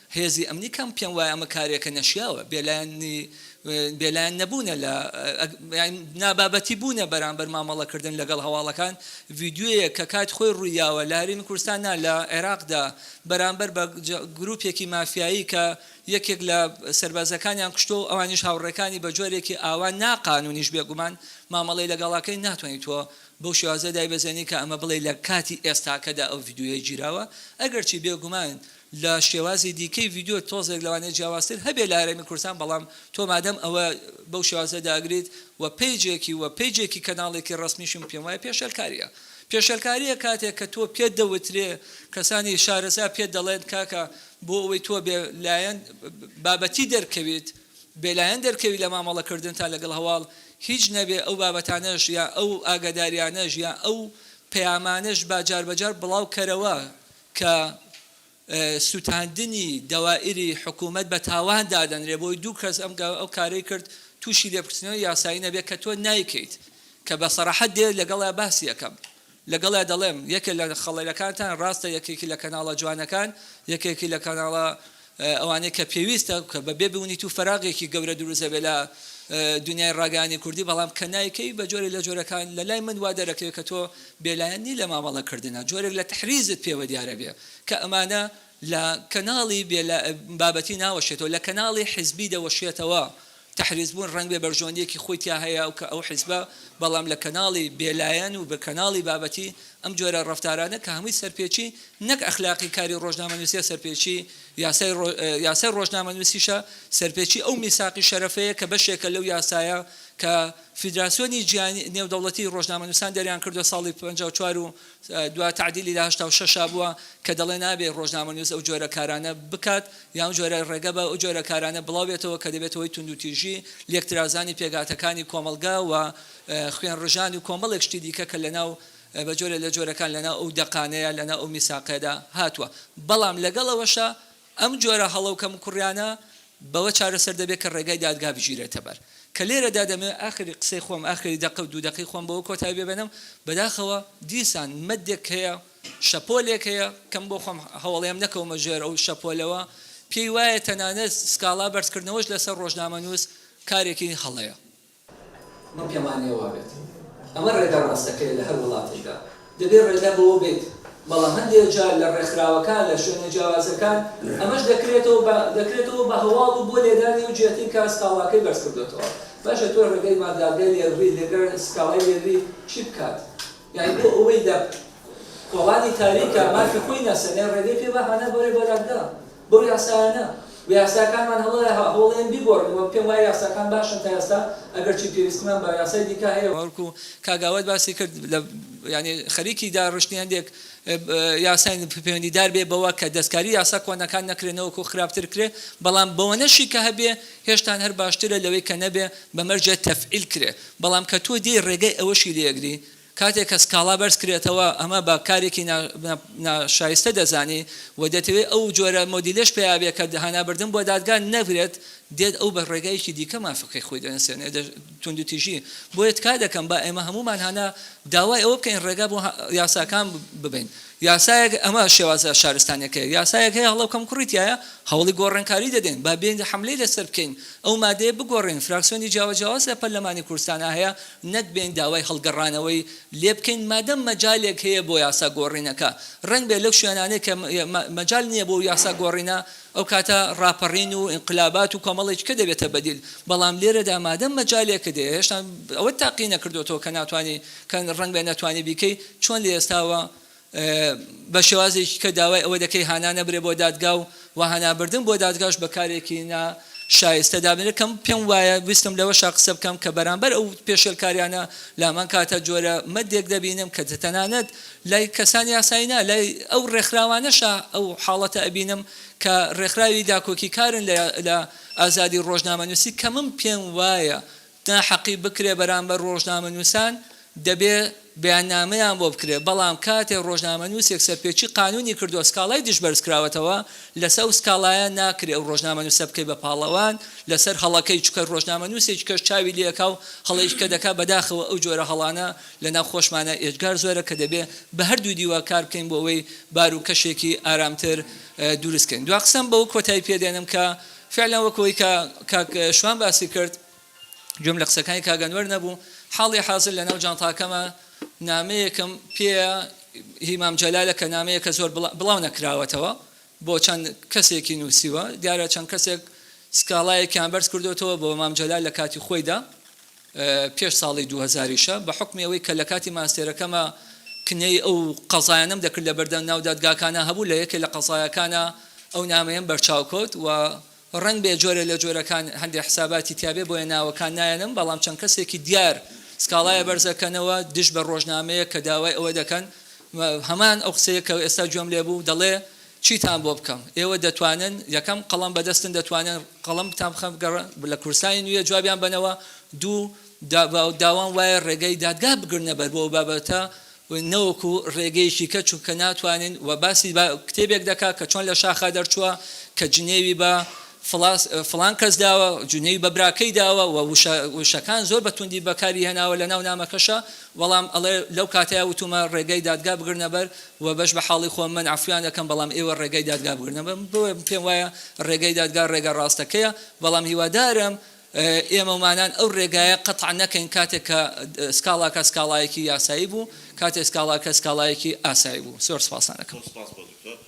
S5: هێزی ئەمنی کەم پێم وایە ئەمە کارێکە نەشیاوە، بێلایەنی بێلایەن نەبوونە لە نابابەتی بوونە بەرامبەر مامەڵە کردن لەگەڵ هەواڵەکان، ڤیدیۆیەک کە کات خۆی ڕووی یاوە لە هەرێمی کوردستان نا لە عێراقدا بەرامبەر بە گروپێکی مافیایی کە یەکێک لە سەربازەکانیان کوشتوە و ئەوانیش هاوڕێکانی بە جۆرێکی ئاوا نا قانونیش بێگومان مامەڵەی لەگەڵ ئەکەین ناتوانی تۆ بەو شێوازە دایبەزێنی کە ئەمە بڵێی لە کاتی ئێستاکەدا ئەو ڤیدیۆیە گیراوە ئەگەرچی بێگومان لە شێوازی دیکەی ڤیدیۆ تۆزێک لەوانەیە جیاوازتر هەبێت لە هەرێمی کوردستان بەڵام تۆ مادەم ئەوە بەو شێوازە داگریت و پەیجێکی و پەیجێکی کەناڵێکی ڕەسمیشم پێم وایە پێشێلکاریە پێشێلکاریە کاتێک کە تۆ پێت دەوترێ کەسانی شارەزا پێت دەڵێن کاکە بۆ ئەوەی تۆ بێ لایەن بابەتی دەرکەویت بێ لایەن دەرکەوی لە مامەڵە کردنتا لەگەڵ هەواڵ هیچ نەبێ ئەو بابەتانەش یا ئەو ئاگاداریانەش یا ئەو پەیامانەش با جار بە جار بڵاو کەرەوە کە سوتاندنی دەوائری حکومەت بە تاوان دادەنرێ بۆی دوو کەس ئەم ئەو کارەی کرد توشی لێپرسینەوەی یاسایی نەبێ کە تۆ نایکەیت کە بە سەراحەت دێ لەگەڵیا باسی ئەکەم لەگەڵیا دەڵێم یەکێ لە خەڵێلەکانتان ڕاستە یەکێکی لە کەناڵە جوانەکان یەکێکی لە کەناڵە ئەوانەی کە پێویستە کە بە بێ بونی تو فەراغێکی گەورە دروست دەبێت لە دونیای ڕاگەیاندنی کوردی بەڵام کە نایکەی بە جۆرێک لە جۆرەکان لە لای من وا دەرەکەوێت کە تۆ بێلایەن نی لە مامەڵە کردنا جۆرێک لە تحریزت پێوە دیارە بێ کە ئەمانە لە کەناڵی بێلا بابەتی ناوەشێتەوە لە کەناڵی حیزبی دەوەشێتەوە تەحریزبوون ڕەنگبێ بەرژەوەندییەکی خۆی تیا هەیە کە ئەو حیزبە، بەڵام لە کەناڵی بێلایەن و کەناڵی بابەتی، ئەم جۆرە ڕەفتارانە کە هەمووی سەرپێچی نەک ئەخلاقی کاری ڕۆژنامەنووسییە سەرپێچی یاسای ڕۆژنامەنووسیشە، سەرپێچی ئەو میساقی شەرەفەیە کە بەشێکە لەو یاسایە کە فیدراسیۆنی جیهانی نێودەوڵەتی ڕۆژنامەنووسان دەریانکردووە ساڵی پەنجا و چوار و دوا تەعدیلی لە هەشتا و شەش بووە کە دەڵێ نابێ ڕۆژنامەنووس ئەو جۆرە کارانە بکات یا ئەو جۆرە ڕێگە بە ئەو جۆرە کارانە بڵاو بێتەوە کە دەبێتە هۆی توندوتیژی، لێکترازانی پێکهاتەکانی کۆمەڵگە و خوێنڕژانی و کۆمەڵێک شتی دیکە کە لەناو بە جۆرێ لە جۆرەکان لەناو ئەو دەقانەیە لەناو ئەو میساقەدا هاتووە. بەڵام لەگەڵ ئەوەشا ئەم جۆرە هەڵە و کەموکوڕیانە بەوە چارەسەر دەبێت کە ڕێگای دادگا بگیرێتە بەر. کە لێرەدا دەمەوێت ئاخری قسەی خۆم، ئاخری دەقە و دوو دەقەی خۆم بەوە کۆتایی پێ بێنم، بەداخەوە دیسان مەدێک هەیە، شەپۆلێک هەیە، کە من بۆ خۆم هەوڵێم نەکەومە ژێر ئەو شەپۆلەوە، پێی وایە تەنانەت سکاڵا بەرزکردنەوەش لەسەر ڕۆژنامەنووس کارێکی هەڵەیە. من پێم وانیە وابێت. ئەمە ڕێگا ڕاستەکەیە لە هەر وڵاتێکدا. دەبێت ڕێگا بەوە بێت. بەڵام هەندێک جار لە ڕێکخراوەکان، لە شوێنە جیاوازەکان ئەمەش دەکرێتەوە بە دەکرێتەوە بە هەواڵ و بۆ لێدانی ئەو جیەتەی کە سکاڵاکەی بەرز کردۆتەوە. باشە تۆ ڕێگای ما دادگای لێلڕی لەگەر سکاڵای لێلڕی چی بکات؟ یانی بۆ ئەوەی لە کۆڵانی تاریکا مافی خۆی نەسەنێ ڕێگەی پێ بهانە بەرێ بە دادگا. بەو یاسایانە و یاساکانمان هەڵەیە هەوڵێن بیگۆڕن وە پێم وایە یاساکان باشن تا ئێستا ئەگەرچی پێویستیمان بە یاسای دیکە هەیە. بەڵکو کاک ئاوات باسی کرد لە یانی خەریکی داڕشتنی هەندێک یاساین پەیوەندیدار بێ بەوە کە دەستکاری یاسا کۆنەکان نەکرێ نەوەکو خراپتر کرێ بەڵام بەوەنەشی کە هەبێ هێشتان هەر باشترە لەوەی کە نەبێ بەمەرجێ تەفعیل کرێ بەڵام کە تۆ دێی ڕێگەی ئەوەشی لێ ئەگری کاتێک کە سکاڵا بەرزکرێتەوە ئەمە بە کارێکی ناشایستە دەزانێ و دەتەوێ ئەو جۆرە مۆدیلەش پێیابێ کە هانابردن بۆ دادگا نەبرێت، دێت ئەو بە ڕێگایەکی دیکە مافەکەی خۆی دەنوسێنێ، توندوتیژی، بۆیە تکا دەکەم با ئێمە هەموومان هانا داوای ئەوە بکەین ڕێگا بۆ یاساکان ببەین، یاسایەک ئەمە شێوازە شارستانیەکەیە، یاسایەک هەیە هەڵە و کەمکوڕی تیایە هەوڵی گۆڕێنکاری دەدەین، با بێین حەملەی لەسەر بکەین ئەو مادەیە بگۆڕێین، فراکسیۆنی جیاوجیاواز لە پەرلەمانی کوردستانا هەیە، نەک بێین داوای هەڵگەڕانەوەی لێ بکەین مادەم مەجالێک هەیە بۆ یاسا گۆڕینەکە، رەنگبێ لەو شوێنانەی کە مەجال نییە بۆ یاسا گۆڕینە ئەو کاتە راپەڕین و ئینقلابات و کۆمەڵێکی کە دەبێتە بەدیل، بەڵام لێرەدا مادەم مەجالێکت هەیە هێشتا ئەوەت تاقی نەکردۆتەوە کە ناتوانی کە رەنگبێ نەتوانی بیکەی چۆن لە ئێستاوە بە شێوازێکی کە داوای ئەوە دەکەی هانا نەبرێ بۆ دادگا و وە هانا بردن بۆ دادگاش بە کارێکی نا شایستە دابنرێ کە پێم وایە ویستم لەوەشا قسە بکەم کە بەرامبەر ئەو پێشێلکاریانە لامان کاتە جۆرە مەدێک دەبینم کە تەنانەت لای کەسانی یاسایی نا لای ئەو ڕێکخراوانەشا ئەو حاڵەتە ئەبینم کە ڕێکخراوی داکۆکیکارن لە ئازادی ڕۆژنامەنووسی کە من پێم وایە ناحەقی بکرێت بەرامبەر ڕۆژنامەنووسان، دەبێت بەیاننامەیان بۆ بکرێت، بەڵام کاتێک ڕۆژنامەنووسێک سەرپێچی قانوونی کردووە سکاڵای دژ بەرزکراوەتەوە، لەسەر ئەو سکاڵایە ناکرێت ئەو ڕۆژنامەنووسە بکەیت بە پاڵەوان لەسەر هەڵەکەی، چونکە ڕۆژنامەنووسێکی کەش چاوی لێکا و هەڵەیەکی کە دەکات، بەداخەوە ئەو جۆرە هەڵانە لەناو خۆشمانا ئێجگار زۆرە کە دەبێت بە هەردوو دیوە کار بکەین بۆ ئەوەی بار و کەشێکی ئارامتر دروست کەین. دوا قسەم بەوە کۆتایی پێ دێنم کە، فیعلەن وەک ئەوەی کە کاک شوان باسی کرد، گوێم لە قسەکانی کاک ئەنوەر نەبوو، حاڵی حازر لە ناو جانتاکەمە نامەیەکم پێیە هی مام جەلالە کە نامەیەکە زۆر بڵا بڵاو نەکراوەتەوە بۆ چەند کەسێکی نووسیوە دیارە چەند کەسێک سکاڵایەکیان بەرز کردۆتەوە بۆ مام جەلال لە کاتی خۆیدا پێش ساڵی دوو هەزار یشە بە حوکمی ئەوەی کە لە کاتی ماستێرەکەما کنەی ئەو قەزایانەم دەکرد لە بەردەم ناو دادگاکانا هەبوو لە یەکێ لە قەزایەکانا ئەو نامەیەم بەرچاو کەوت و ڕەنگ بێ جۆرێ لە جۆرەکان هەندێ حساباتی تیا بێ بۆیە ناوەکان نایەنم بەڵام چەند کەسێکی دیار سکاڵایە بەرزەکەنەوە دژ بە ڕۆژنامەیەک کە داوای ئەوە دەکەن هەمان ئەو قسەیە کە ئێستا گوێم لێ بوو دەڵێ چیتان بۆ بکەم؟ ئێوە دەتوانن یەکەم قەڵەم بەدەستن دەتوانن قەڵەم بتان بخەم گەڕ لە کورسانی نوێ جوابیان بەنەوە دوو دا داوام وایە ڕێگەی دادگا بگرنە بەر بۆ بابەتە نەوەکو ڕێگەیەکی کە چونکە ناتوانن وە باسی با کتێبێک دەکا کە چۆن لە شاخا دەرچووە کە جنێوی بە فڵاس فڵان کەس داوە جنێوی بە براکەی داوە وە وشە وشەکان زۆر بە توندی بەکاری هێناوە لە ناو نامەکەشە بەڵام ئەڵێ لەو کاتەیا وتومە ڕێگای دادگا بگرنە بەر و بەش بە حاڵی خۆم من عەفویان ئەکەم بەڵام ئێوە ڕێگای دادگا بگرنە بەر بۆیە پێم وایە ڕێگای دادگا ڕێگا ڕاستەکەیە بەڵام هیوادارم ئێمە و مانان ئەو ڕێگایە قەتع نەکەین کاتێک کە سکاڵاکە سکاڵایەکی یاسایی بوو کاتێک سکاڵاکە سکاڵایەکی ئاسایی بوو زۆر سپاستان ئەکەم. زۆر سپاس بۆ دکتۆر